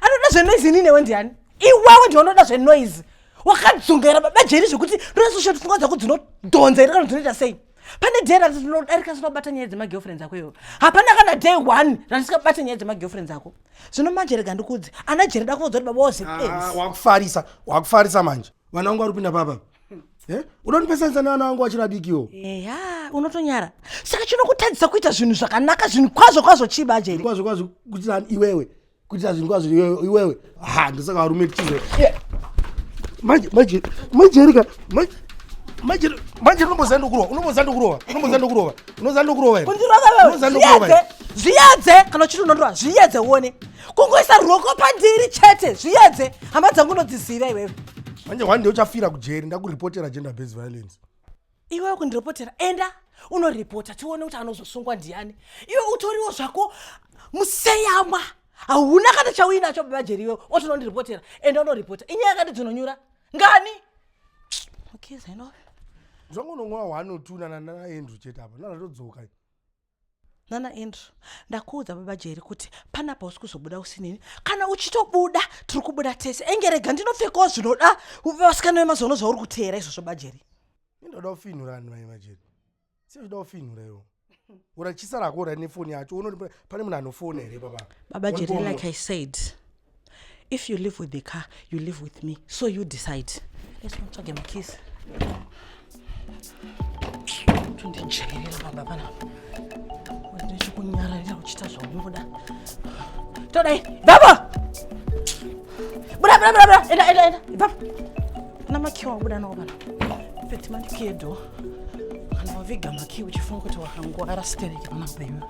anoda zvenoise ini newe ndiani iwewe ndiwe unoda zvenoise wakadzungaira baba jeri zvekuti ndonasosha pfungwa dzako dzinodhonza iri kana dzinoita sei pane day rati ndinodarika sinobata nyaya dzemagirlfriends ako iwo hapana kana day one randisingabata nyaya dzemagirlfriends ako zvino manje rega ndikudzi ana jeri dakuudza kuti baba wakufarisa wakufarisa manje vana vangu vari kupinda papa eh? uda ndipesanisa nevana vangu vachiri adikiwo eya unotonyara saka chinokutadzisa kuita zvinhu zvakanaka zvinhu kwazvo kwazvo chii bajeri kwazvo kwazvo kuitira iwewe kuitira zvinhu kwazvo iwewe ha ndosaka varume tichizo manje manje majeri ka manje manje manje unomboziva ndokurova unomboziva ndokurova unomboziva ndokurova unoziva ndokurova here undirova wewe zviyedze zviyedze kana uchiti unondorova zviyedze uone kungoisa ruoko pandiri chete zviyedze hama dzangu unodziziva iwewe manje hwani ndeuchafira kujeri ndakuripotera gender based violence iwewe kundiripotera enda unoripota tione kuti anozosungwa ndiani iwe utoriwo zvako museyamwa hauna kana chauinacho baba jeri iwewe otonondiripotera enda unoripota inyaya yakati dzinonyura ngani okay, zvainove zvangu unomwa hwani utunana naendru chete apa ndatodzoka nana andrew ndakuudza baba jeri kuti panapa usi kuzobuda usinini kana uchitobuda tiri kubuda tese enge rega ndinopfekawo zvinoda vasikana vemazono zvauri kuteera izvozvo bajeri indoda kufinhura vanhu vai majeri sezvida kufinhura iwo urachisa rako ura nefoni yacho unoti pane munhu anofona here baba baba jeri like i said if you live with the car you live with me so you decide let's not talk about kiss tundijairira baba pana ndichikunyararira kuchita zvaunoda todai baba buda buda buda buda enda enda enda baba na makiwa wabuda nawo pana peti mandikiye do kana waviga makiwa uchifunga kuti wakangwara stereki pana kubeyiwa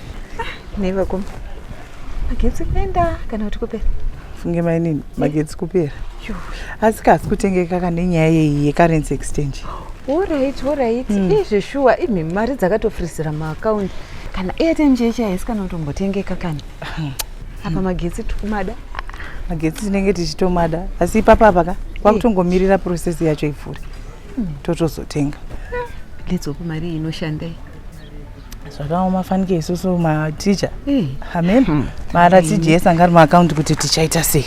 Ah, nei vakoma magetsi kuenda kana kuti kupera funge mainini magetsi kupera asi kasi kutengeka kane nyaya yeyi yecurrency exchange orit orit hmm. izve shuwa imi mari dzakatofrisira maakaunti kana airtime chee chee haisi kana kutombotengeka kani hmm. apa magetsi tikumada magetsi tinenge tichitomada asi ipapa apa ka kwakutongomirira eh. process yacho ivhuri hmm. totozotenga letsopo mari inoshandei zvakaoma fanike isusu maticha hmm. amen hmm. mara tijesa anga ari maakaunti kuti tichaita sei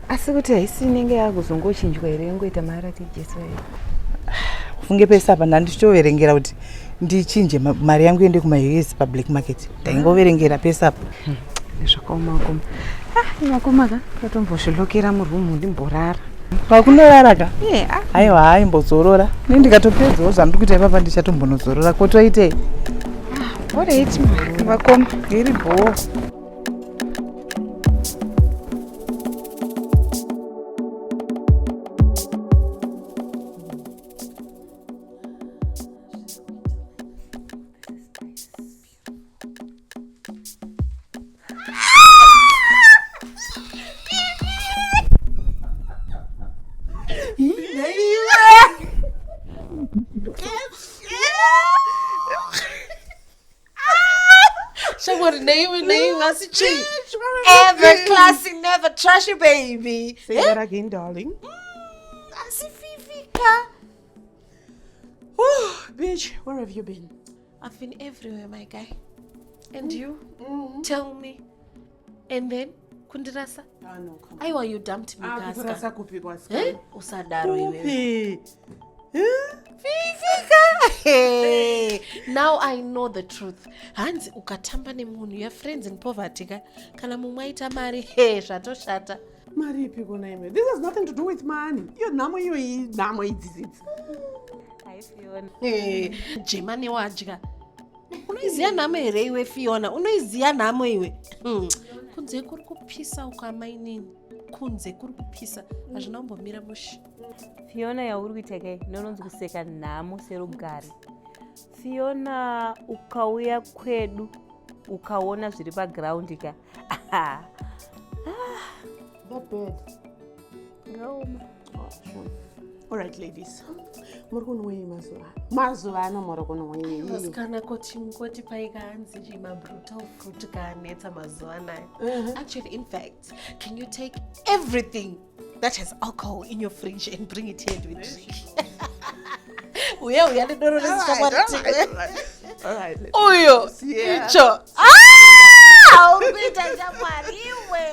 asi kuti haisi inenge yakuzongochinjwa here ingoita mara tijesa ufunge pese apa ndandichitoverengera kuti ndichinje mari yangu yende kumaus public market ndaingoverengera pese apa zvakaoma vakoma ah, vakoma ka katombozvilokera murumu ndimborara pakunorara ka ah. haiwa yeah. haimbozorora ne ndikatopedzawo zvandiri kuita ipapa ndichatombonozorora kotoitei ah, orit vakoma iri bhoo Yes. Shamwari neiwe neiwe asi chii ever classy never trashy baby Say Eh? that again, darling. asififika Whew, bitch, where have you been? I've been everywhere my guy and mm. you mm. tell me and then kundirasa ah, no, aiwa you dumped me ah, eh? usadaro iwe Hey, now I know the truth. Hanzi ukatamba nemunhu your friends in poverty ka kana mumwe aita mari hey, zvatoshata. mari ipi kona imwe this has nothing to do with money iyo nhamo iyo nhamo idzizidzi eh, jemane wadya unoiziva nhamo here iwe fiona unoiziva nhamo iwe hmm. kunze kuri kupisa uko amainini kunze kuri kupisa hazvina kumbomira mushi fiona yauri kuita kai ndononzi kuseka nhamo serugare fiona ukauya kwedu ukaona zviri pagraundi ka Ah, That bed. ngaoma. Oh, sure. All right, ladies. Muri kunwei mazuva ano? Mazuva ano muri kunwei? Vasikana koti koti paika hanzi chi mabrutal fruit kaanetsa mazuva anaya. Actually, in fact, can you take everything that has alcohol in your fridge and bring it here and we drink. Uya uya nedoro Uyo icho. Ah! Umpita shamwari iwe.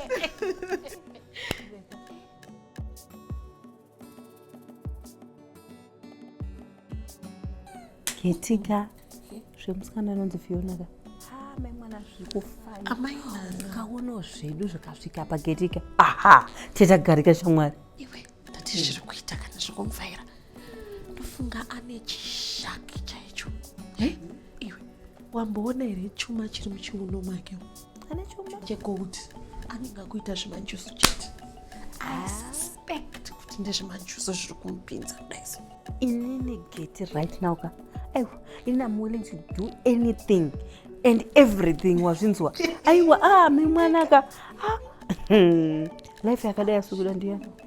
Ketika zvemusikana anonzi Fiona ka amai kaonawo zvedu zvikasvika pagetika aha tetagarika shamwari iwe tati zviri kuita kana zvikumvaira ndofunga ane chishaki chaicho iwe wamboona here chuma chiri muchiuno make ane chuma chegold anenge akuita zvemanjusu chete i ah. suspect kuti ndezvemanjusu zviri kumupinza daiso inini geti right now ka aiwa ini am willing to do anything and everything wazvinzwa aiwa ah mimwanaka ah. Hmm. life yakadai asikuda ndiyani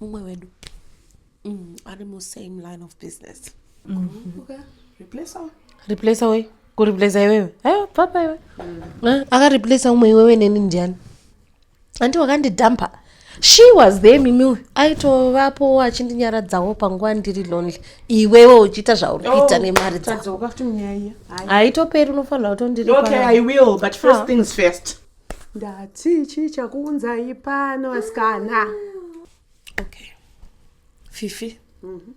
mumwe wedu mm, ari mu same line of business mm -hmm. replacer replacer wei kureplacer iwewe ayo papa iwe mm. Eh, akareplacer umwe iwewe neni ndiani andi wakandidhampa she was there mimi aitovapo achindinyaradzawo panguva ndiri lonely iwewe uchiita zvauri oh, kuita nemari dzaaitoperi unofanira kutondiriaitoperi ndati chii chakuunzai pano vasikana okay fifi mm -hmm.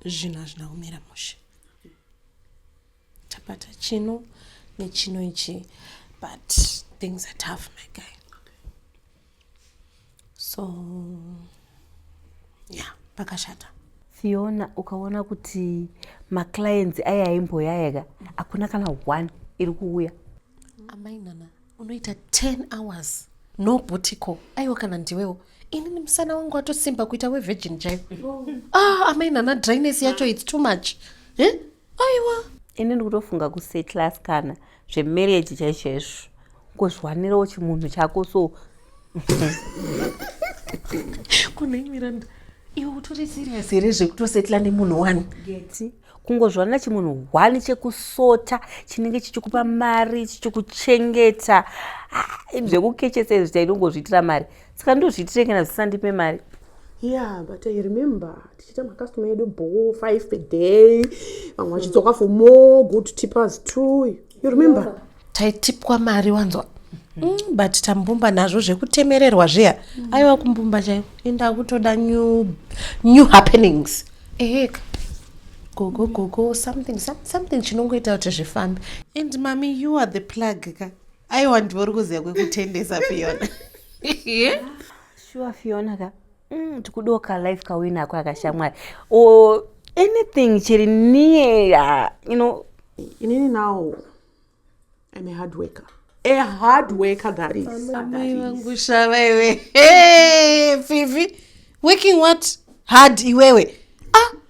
zvinhu hazvina kumira mushe tapata chino nechino ichi but things are tough my guy so ya yeah, pakashata fiona ukaona kuti maclients aya aimboyaya ka hakuna kana one iri kuuya amai nana unoita 10 hours no butico aiwa kana ndiwewo inini musana wangu watosimba kuita wevirgin chaivo ah, amai nana dryness yacho its too much eh? aiwa ini ndikutofunga kusetlas kana zvemarriage chaizvo izvo kuzviwanirawo chimunhu chako so kunei miranda iwe utori serious here zvekutosetla nemunhu one geti kungozviwanira chimunhu one chekusota chinenge chichikupa mari chichikuchengeta ah, zvekukechesa izvi tainongozviitira mari saka ndozviitire kana zvisandipe mari yeah but i remember tichiita macustoma edu bho five per day vamwe vachidzoka for more good tippers too you remember yeah taitipwa mari wanzwa mm, but tambumba nazvo zvekutemererwa zviya mm. aiwa kumbumba chaivo enda kutoda new, new happenings eheka gogo gogo something something chinongoita kuti zvifambe and mami you are the plug ka aiwa ndivo uri kuziva kwekutendesa fiona shuwa fiona ka mm, tikudiwo ka life kawina ako akashamwari or anything chiri near you know inini now im a hard worker a hard worker that is amai vangu shava iwe fifi working what hard iwewe ah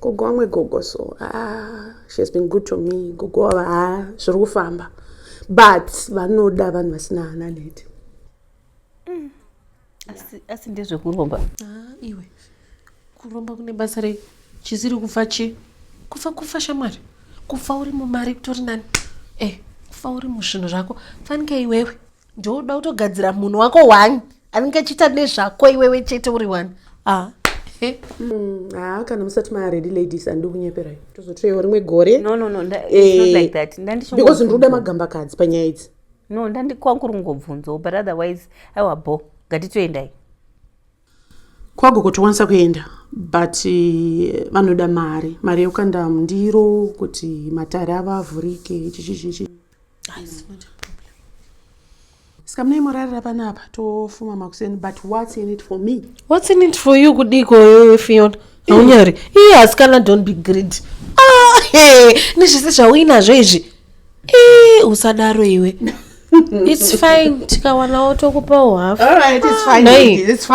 gogo wamwe gogo so ah, she has been good to me gogo wava ah, zviri kufamba but vanoda vanhu vasina hana neti mm. asi ndezvekuromba ah, iwe kuromba kune basa rei chisiri kufa chi kufa kufa shamwari kufa uri mumari kutori nani e eh, kufa uri muzvinhu zvako fanika iwewe ndoda kutogadzira munhu wako one anenge achiita nezvako iwewe chete uri one ah. Hmm, haa ah, kana musati maaredi ladies andi kunyeperai tozotoiwo rimwe gore because eh, ndinoda magambakadzi panyaya idzi no ndandikwangu ringobvunzawo but otherwise aiwa bo ngatitoendai kwago kutokwanisa kuenda but eh, vanoda mari mari yekukanda mundiro kuti matare avo avhurike chichichichi sikamunai morarira panapa tofuma makuseni but whats in it for me whats in it for you kudiko yoyo fiona haunyari iye asikana don't be greed ah, hey, nezvese zvauinazvo izvi e usadaro iwe its fine tikawanawo tokupawo hafnladies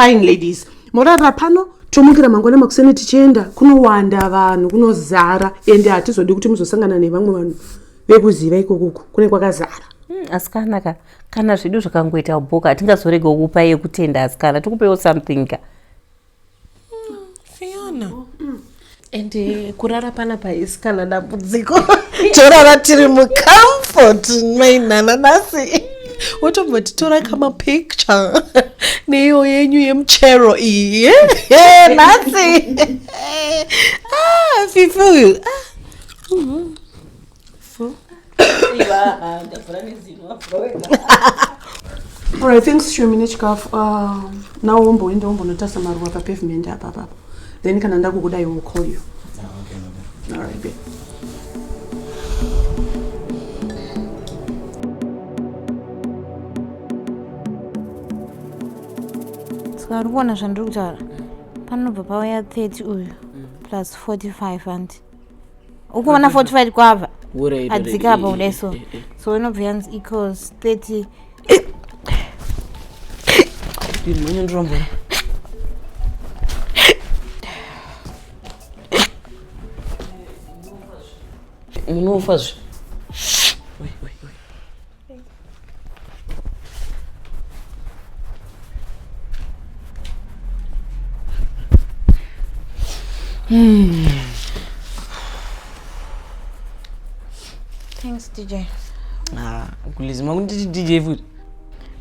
morarira pano tomukira mangwana makuseni tichienda kunowanda vanhu kunozara ende hatizodi kuti muzosangana nevamwe vanhu vekuziva ikokuku kune kwakazara hmm, asikana ka kana zvedu zvakangoita bhoka hatingazorega kukupa yekutenda asikana tikupewo something ka hmm, fiona hmm. and eh, kurara pana paisikana dambudziko torara tiri mucomfort mainhananasi wotomboti tora kama picture neiyo yenyu yemuchero iyi eh, nhasi ah, fifi uyu ah. Alright, thanks Shumi nechikafu. Uh, now womboenda wombonotarisa maruva papavement apa apa. Then kana ndakukuda I will call you. Ah, okay, okay. Alright, babe. Saka uri kuona zvandiri kutaura panobva pauya 30 uyu plus 45 hanti ukuona 45 kwava adzika apa kudai so so inobva yanzi equals 30 ndinonyandirombora munofa zve Hmm. Thanks DJ. Ah, kulizima kunditi DJ futi.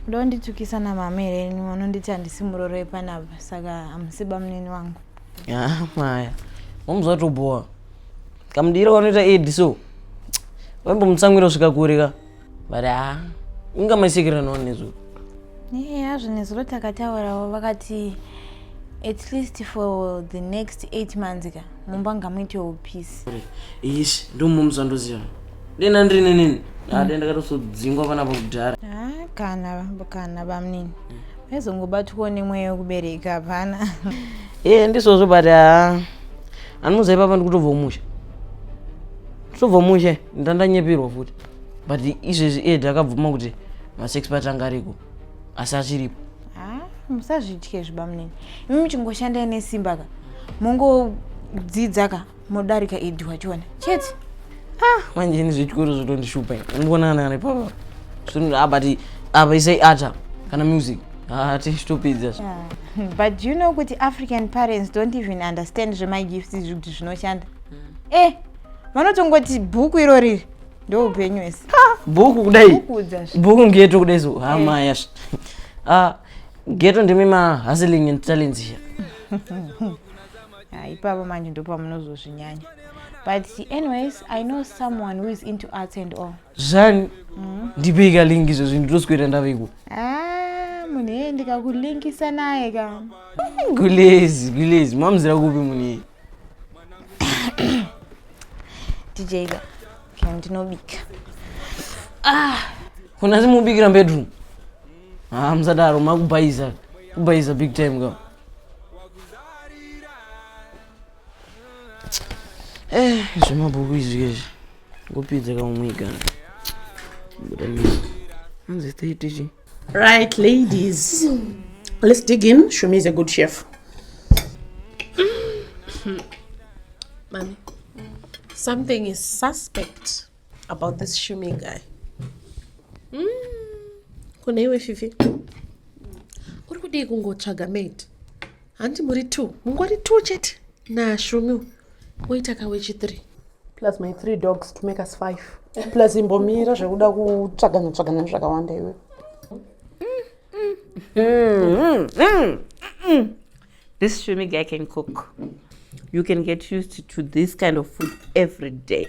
Ndo nditukisa na mamere enyu vanonditi handisi muroro wepanapa saka hamusiba munini wangu. Ah, maya. Wamuzwa tobowa. kamudiro kanoita ed so vaimbomutsamwira kusvika kure ka but ha inga maisekera nawo nezuro hazvo nezuro takataurawo vakati at least for the next eight months ka mumba ngamuitewo peace ish ndomumza ndoziva dena ndiri nenini ade ah, ndakatosodzingwa panapa kudhara ah, kana kana bamnini vaizongobatwawo nemweya wekubereka hapana e ndisozvo but haa ah, Anomuza ipapa ndikutobva umusha. Tobva umusha ndandanyepirwa futi. But izvezvi iye ndakabvuma kuti masex part anga ariko asi achiripo. Ah, musazvitye zvibamunini. Imi muchingoshandai nesimba ka. Mongodzidza ka modarika Edi wachiona. Chete. Ah, manje ini zvechikoro zvotondishupa. Unongoona ana ari papa. Zvinoda abati apa isai ata kana music. Ah, tishitupidza yeah. but you know kuti african parents don't even understand zvemagifts izvi kuti zvinoshanda mm. eh vanotongoti bhuku iro riri ndoupenyu ese bhuku kudai bhuku ngeto kudai so hama eh. yasha ah, geto ndimi mahustling and talents here ah, ipapo manje ndopamunozozvinyanya but anyways i know someone who is into arts and all zvani ndipei kalingi izvo zvinhu ndoswera ndaveiko Ah, munhu yeye ndikakulinkisa naye ka gulezi gulezi mamuzira kupi munhu iyi dj ka ka ndinobika kuna simubikira bedroom ha musadaro makubhaiza kubhaiza big time ka Eh, zvemabhuku izvi izvi kupidza kaumwiga anzi taiitichi right ladies let's dig in shumi is a good chef mami something is suspect about this shumi guy mm. kune iwe fifi uri kudii kungotsvaga mate Hanti muri two, mungori two chete naShumi oita kawechi three. Plus my three dogs to make us five. Plus imbomira zvekuda kutsvagana tsvagana zvakawanda iwe. Mm, mm, mm, this Shumi guy can cook. You can get used to this kind of food every day.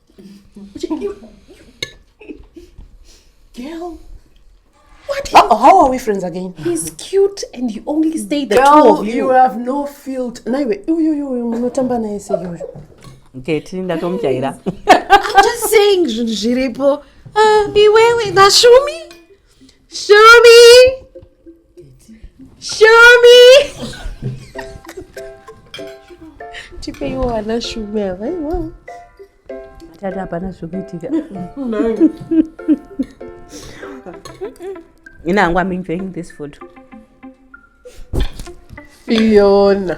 Girl. What? How, how are we friends again? He's cute and you only stay the Girl, two of you. you have no field. Naiwe, uyu uyu uyu munotamba naye sei uyu. Okay, tini ndatomujaira. I'm just saying zvinhu zviripo. Uh, iwewe, Nashumi? Shumi! Shumi. Tipeiwo wana shumi ava iwawo. Tata hapana zvekuitika. Ina hangu I'm enjoying this food. Fiona.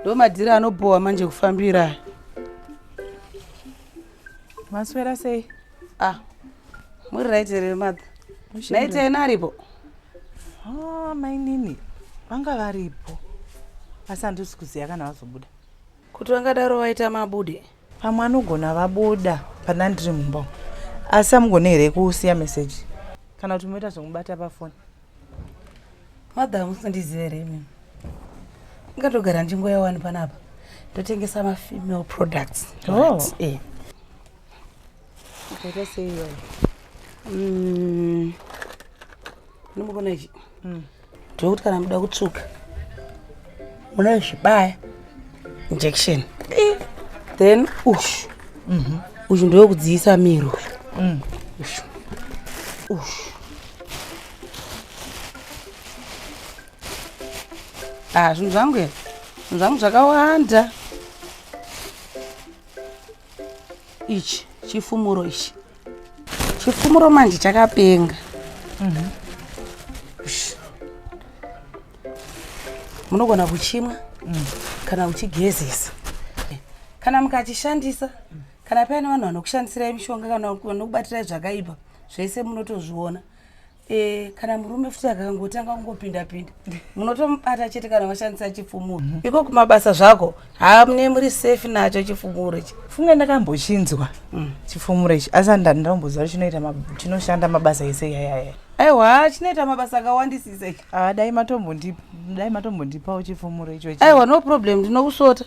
ndomadhiri anobhowa manje kufambira maswera sei ah muri right here mother naita ena aripo ah, mainini vanga varipo asi handisi kuziva kana vazobuda kuti vangadaro vaita mabude Pamwe anogona vabuda pana ndiri mumba umu. Asi amugone here kusiya message kana kuti moita zvekubata pafoni? Mother hamusandizive here imimi? Ndingatogara nzvimbo yawani panapa ndotengesa mafemale products. Oh. Right. Eh. Makaita sei iwayo? Mm. Ndimukona ichi. Mm. Ndokuti kana muda kutsvuka. Muna zvibaya injection. Eh. Then ush. Mhm. Mm ush ndoyo kudziyisa miro. Mm. Ush. Ush. Ah, zvinhu zvangu here? Zvinhu zvangu zvakawanda. ichi chifumuro ichi chifumuro manje chakapenga mhm. munogona kuchimwa mm. kana kuchigezesa kana mukachishandisa kana paine vanhu vanokushandisirai mishonga kana vanokubatirai zvakaipa zvese munotozviona Eh, kana murume futi akangotanga kungopinda pinda munotomubata chete kana washandisa chifumuro mm -hmm. iko kumabasa zvako hamune muri safe nacho chifumuro ichi funge ndakambochinzwa mm. chifumuro ichi asi andandamboziva kuti chinoita chinoshanda mabasa ese yayaya aiwa chinoita mabasa akawandisisa ichi ah, dai matombondipawo chifumuro icho aiwa no problem ndinokusota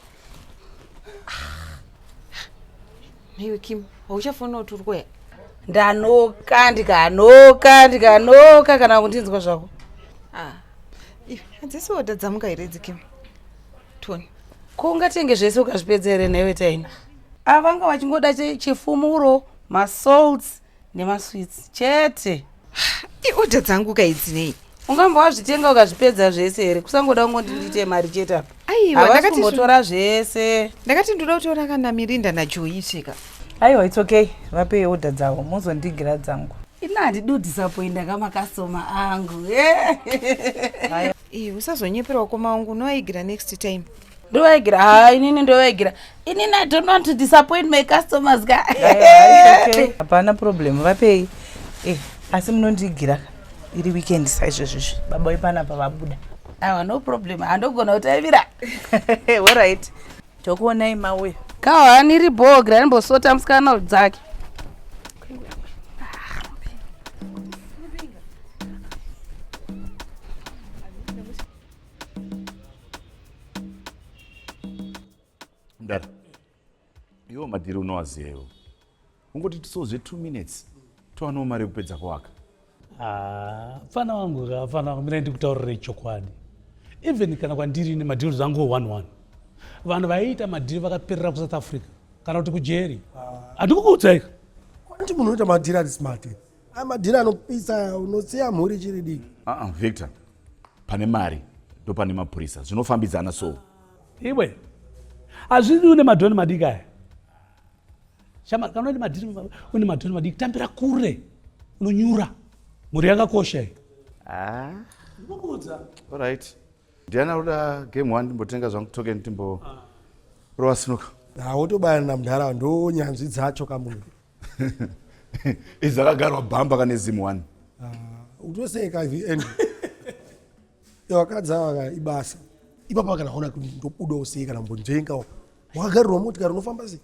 Newe Kim, hauchafonawo turi kuya. Ndanoka ndikanoka ndikanoka kana kundinzwa zvako. Ah. Iwe hadzisi oda dzamuka here idzi Kim? Tony. Ko ungatenge zvese ukazvipedza here newe Taina? Avanga vachingoda chifumuro, masalts, nemasweets chete iodha dzangu kaidzinei ungamba wazvitenga ukazvipedza zvese here kusangoda kungondi ndiite mari chete apa aiwa ndakatimbotora zvese ndakati ndoda kutoona kana mirinda najoitika aiwa its okay vapei odha dzavo mozondigira dzangu ini handido disappointa kamakastoma angu usazonyeperawo koma wangu unoaigira next time ndovaigera ha inini ndovaigera inini i don't want to disappoint my customers ka hapana problem vapei eh, asi munondiigira iri weekend saizvezvizvi baba wepana pavabuda awa no problem handogona kutaivira orit tokuonai mauya kahwani ri bogra rimbosota musikana dzake mdara iwo madhiri unowaziva iwo ungoti tiso zve two minutes towanewo mari yekupedza kuwaka ah, fana wangu ka fana wangu mina ndikutaurire chokwadi even kana kwandiri nemadhiri zangu one one vanhu vaiita madhiri vakaperera kusouth africa kana kuti kujeri handikukuudzaika ah. kwati munhu unoita madhiri ari smart amadhiri anopisa unosiya mhuri chiri diki aa ah, victor pane mari ndopane mapurisa zvinofambidzana so iwe hazvidi une madhoni madiki aya shama kana une madhiri une madhoni madiki tambira kure unonyura mhuri yakakosha iyi ah. right ndiani anoda game one ndimbotenga zvangu token timbo ah. rova sinuka hawotobayana ah, namudhara ndonyanzvi dzacho kamunhu Iza akagarwa bamba kane zimu wani. Ah, utosei ka hivi Andrew. Vakadzi ava ka ibasa. Ipapa kana hona kuti ndobuda usei kana mbonjenga. Wakagarirwa motikari unofamba sei?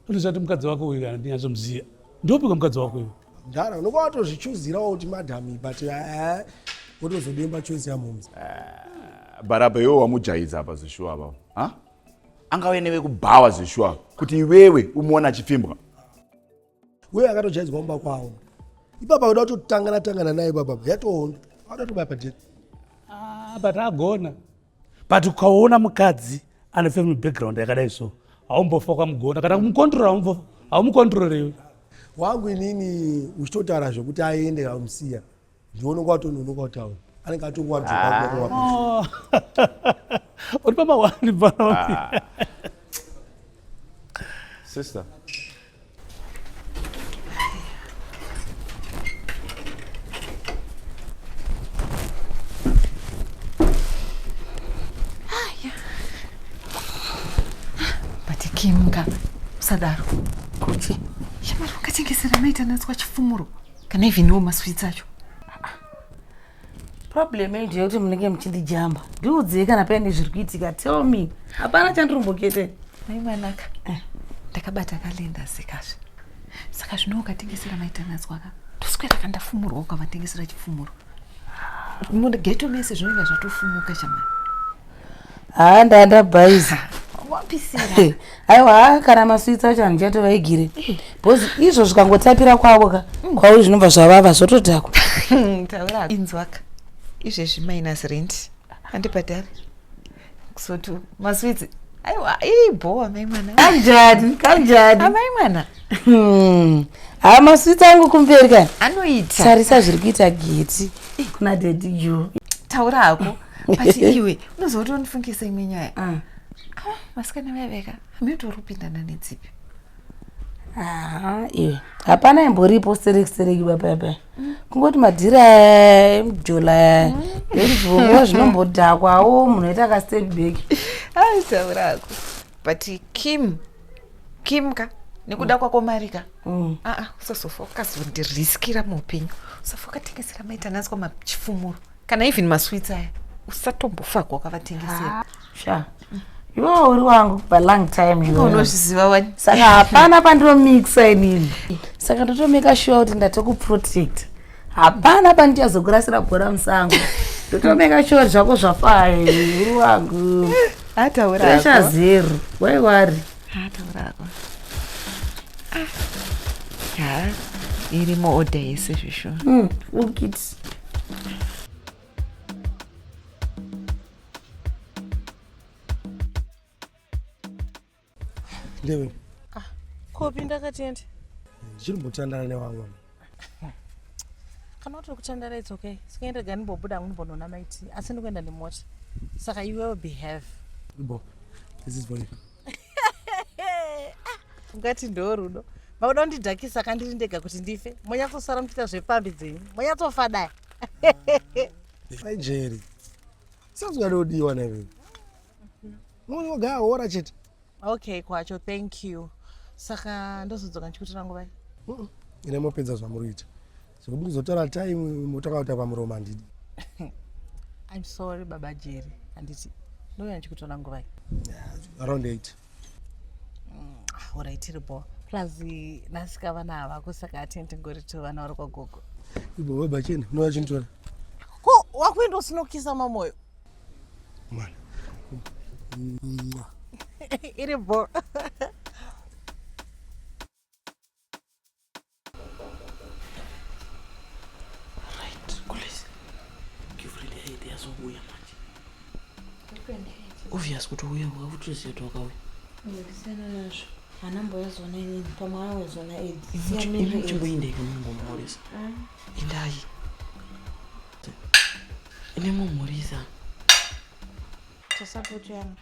Kuti zvati mukadzi wako uyu kana ndinyazomuziva. Ndopika mukadzi wako uyu. Ndara unokuwa watozvichuzirawo kuti madam but eh wotozodemba choice yamomzi. Ah, Baraba iwe wamujaidza apa zvishuwa apapo. Ha? angauye nevekubhawa zveshuwa kuti iwewe umuona achipfimbwa wewe akatojaidzwa mumba kwavo ipapa uda kutotangana tangana naye baba yatoona auda tobaya pajeri ah, but agona but ukaona mukadzi ane family background yakadai so haumbofa kwamugona kana kumukontrora haumukontrorewe wangu inini uchitotaura zvekuti aende amusiya ndiononga watononoka kutaura anenge atonga watoauri ah. pamawani baa ah. sister Sadaro. Kuti. Shamari ungatengesera maita natswa chifumuro. Can I even know masweets acho? problem yenyu ndeyekuti munenge muchindijamba ndiudzei kana paine zviri kuitika tell me hapana chandirimbokete mai mwanaka eh. ndakabata kalenda sekazve saka zvino ukatengesera maitanazwaka ndoswera kandafumurwa ukavatengesera chifumuro mugeto mese zvinonga zvatofumuka chamai haa ndandabhaiza aiwa haa kana maswits acho handichatovaigire bcause izvo zvikangotapira kwavo ka mm. kwauri zvinobva zvavava zvotodhakwa inzwaka izvezvi minus rent handibhadhari kusoti maswits aiwa ibhowa mai mwana kanjani kanjani amai mwana hmm. haa maswits angu kumberi kani anoita tarisa zviri kuita geti kuna dedi jo taura hako but iwe unozokuti unifungisa imwe nyaya ah. ah, masikana vaiveka hamiotori kupindana nedzipi iwe hapana imboripo serekisereki bapayapaya mm. kungoti madhiri aya emjola aya mm. ezvivonguva zvinombodhakwawo munhu aita kastep back aitaurako but kim kim ka nekuda mm. kwako mari ka mm. aa ah, ah, usazofa ukazondiriskira muupenyu usafa ukatengesera maitanaswa machifumuro kana even masweets aya usatombofa kwakavatengesera sha iwewo uri wangu pa long time iwe. unozviziva wani saka hapana pandinomixa inini saka ndotomeka sure kuti ndatokuprotect hapana pandichazokurasira bhora musango ndotomeka sure kuti zvako zvafaya iwe, uri wangu ataura pressure hako zero why worry ataura hako Ah. ha irimo order yese zvishona Mm, ukiti Ndewe. Ah, kopi ndakatenda. Ndichiri mutandara newamwe. Kana utiri kutandara it's okay. Sikaenda gani bobuda nguni bonona maiti. Asi ndikuenda nemota. Saka you will behave. Bo. This is for you. ungati ndoo rudo makuda kundidhakisa kandiri ndega kuti ndife monyatsosara muchiita zvepfambi dzenyu monyatsofa dai jeri sazungadodiwa naive munogaora chete okay kwacho thank you saka ndozodzoka ndichikutora nguvai ine mopedza zvamuri kuita Zvekuti kuzotora time moto akauta pamuromo handidi. I'm sorry baba Jerry. Handiti. Ndouya ndichikutora nguva. Around 8. Mm, ah, alright tiri bho. Plus nasika vana hava kusaka atenti ngori to vana vari kwa gogo. Ibo baba cheni unouya chinitora. Ko wakuenda usinokisa mamoyo. Mwana. Iri bho. obvious kuti uya wakutosiya kuti wakauya ndisiyana nazvo hana mboyazona inini pamwe awezona edichingoindei kumumhoresa indai ine mumhoresa tasapoti yanga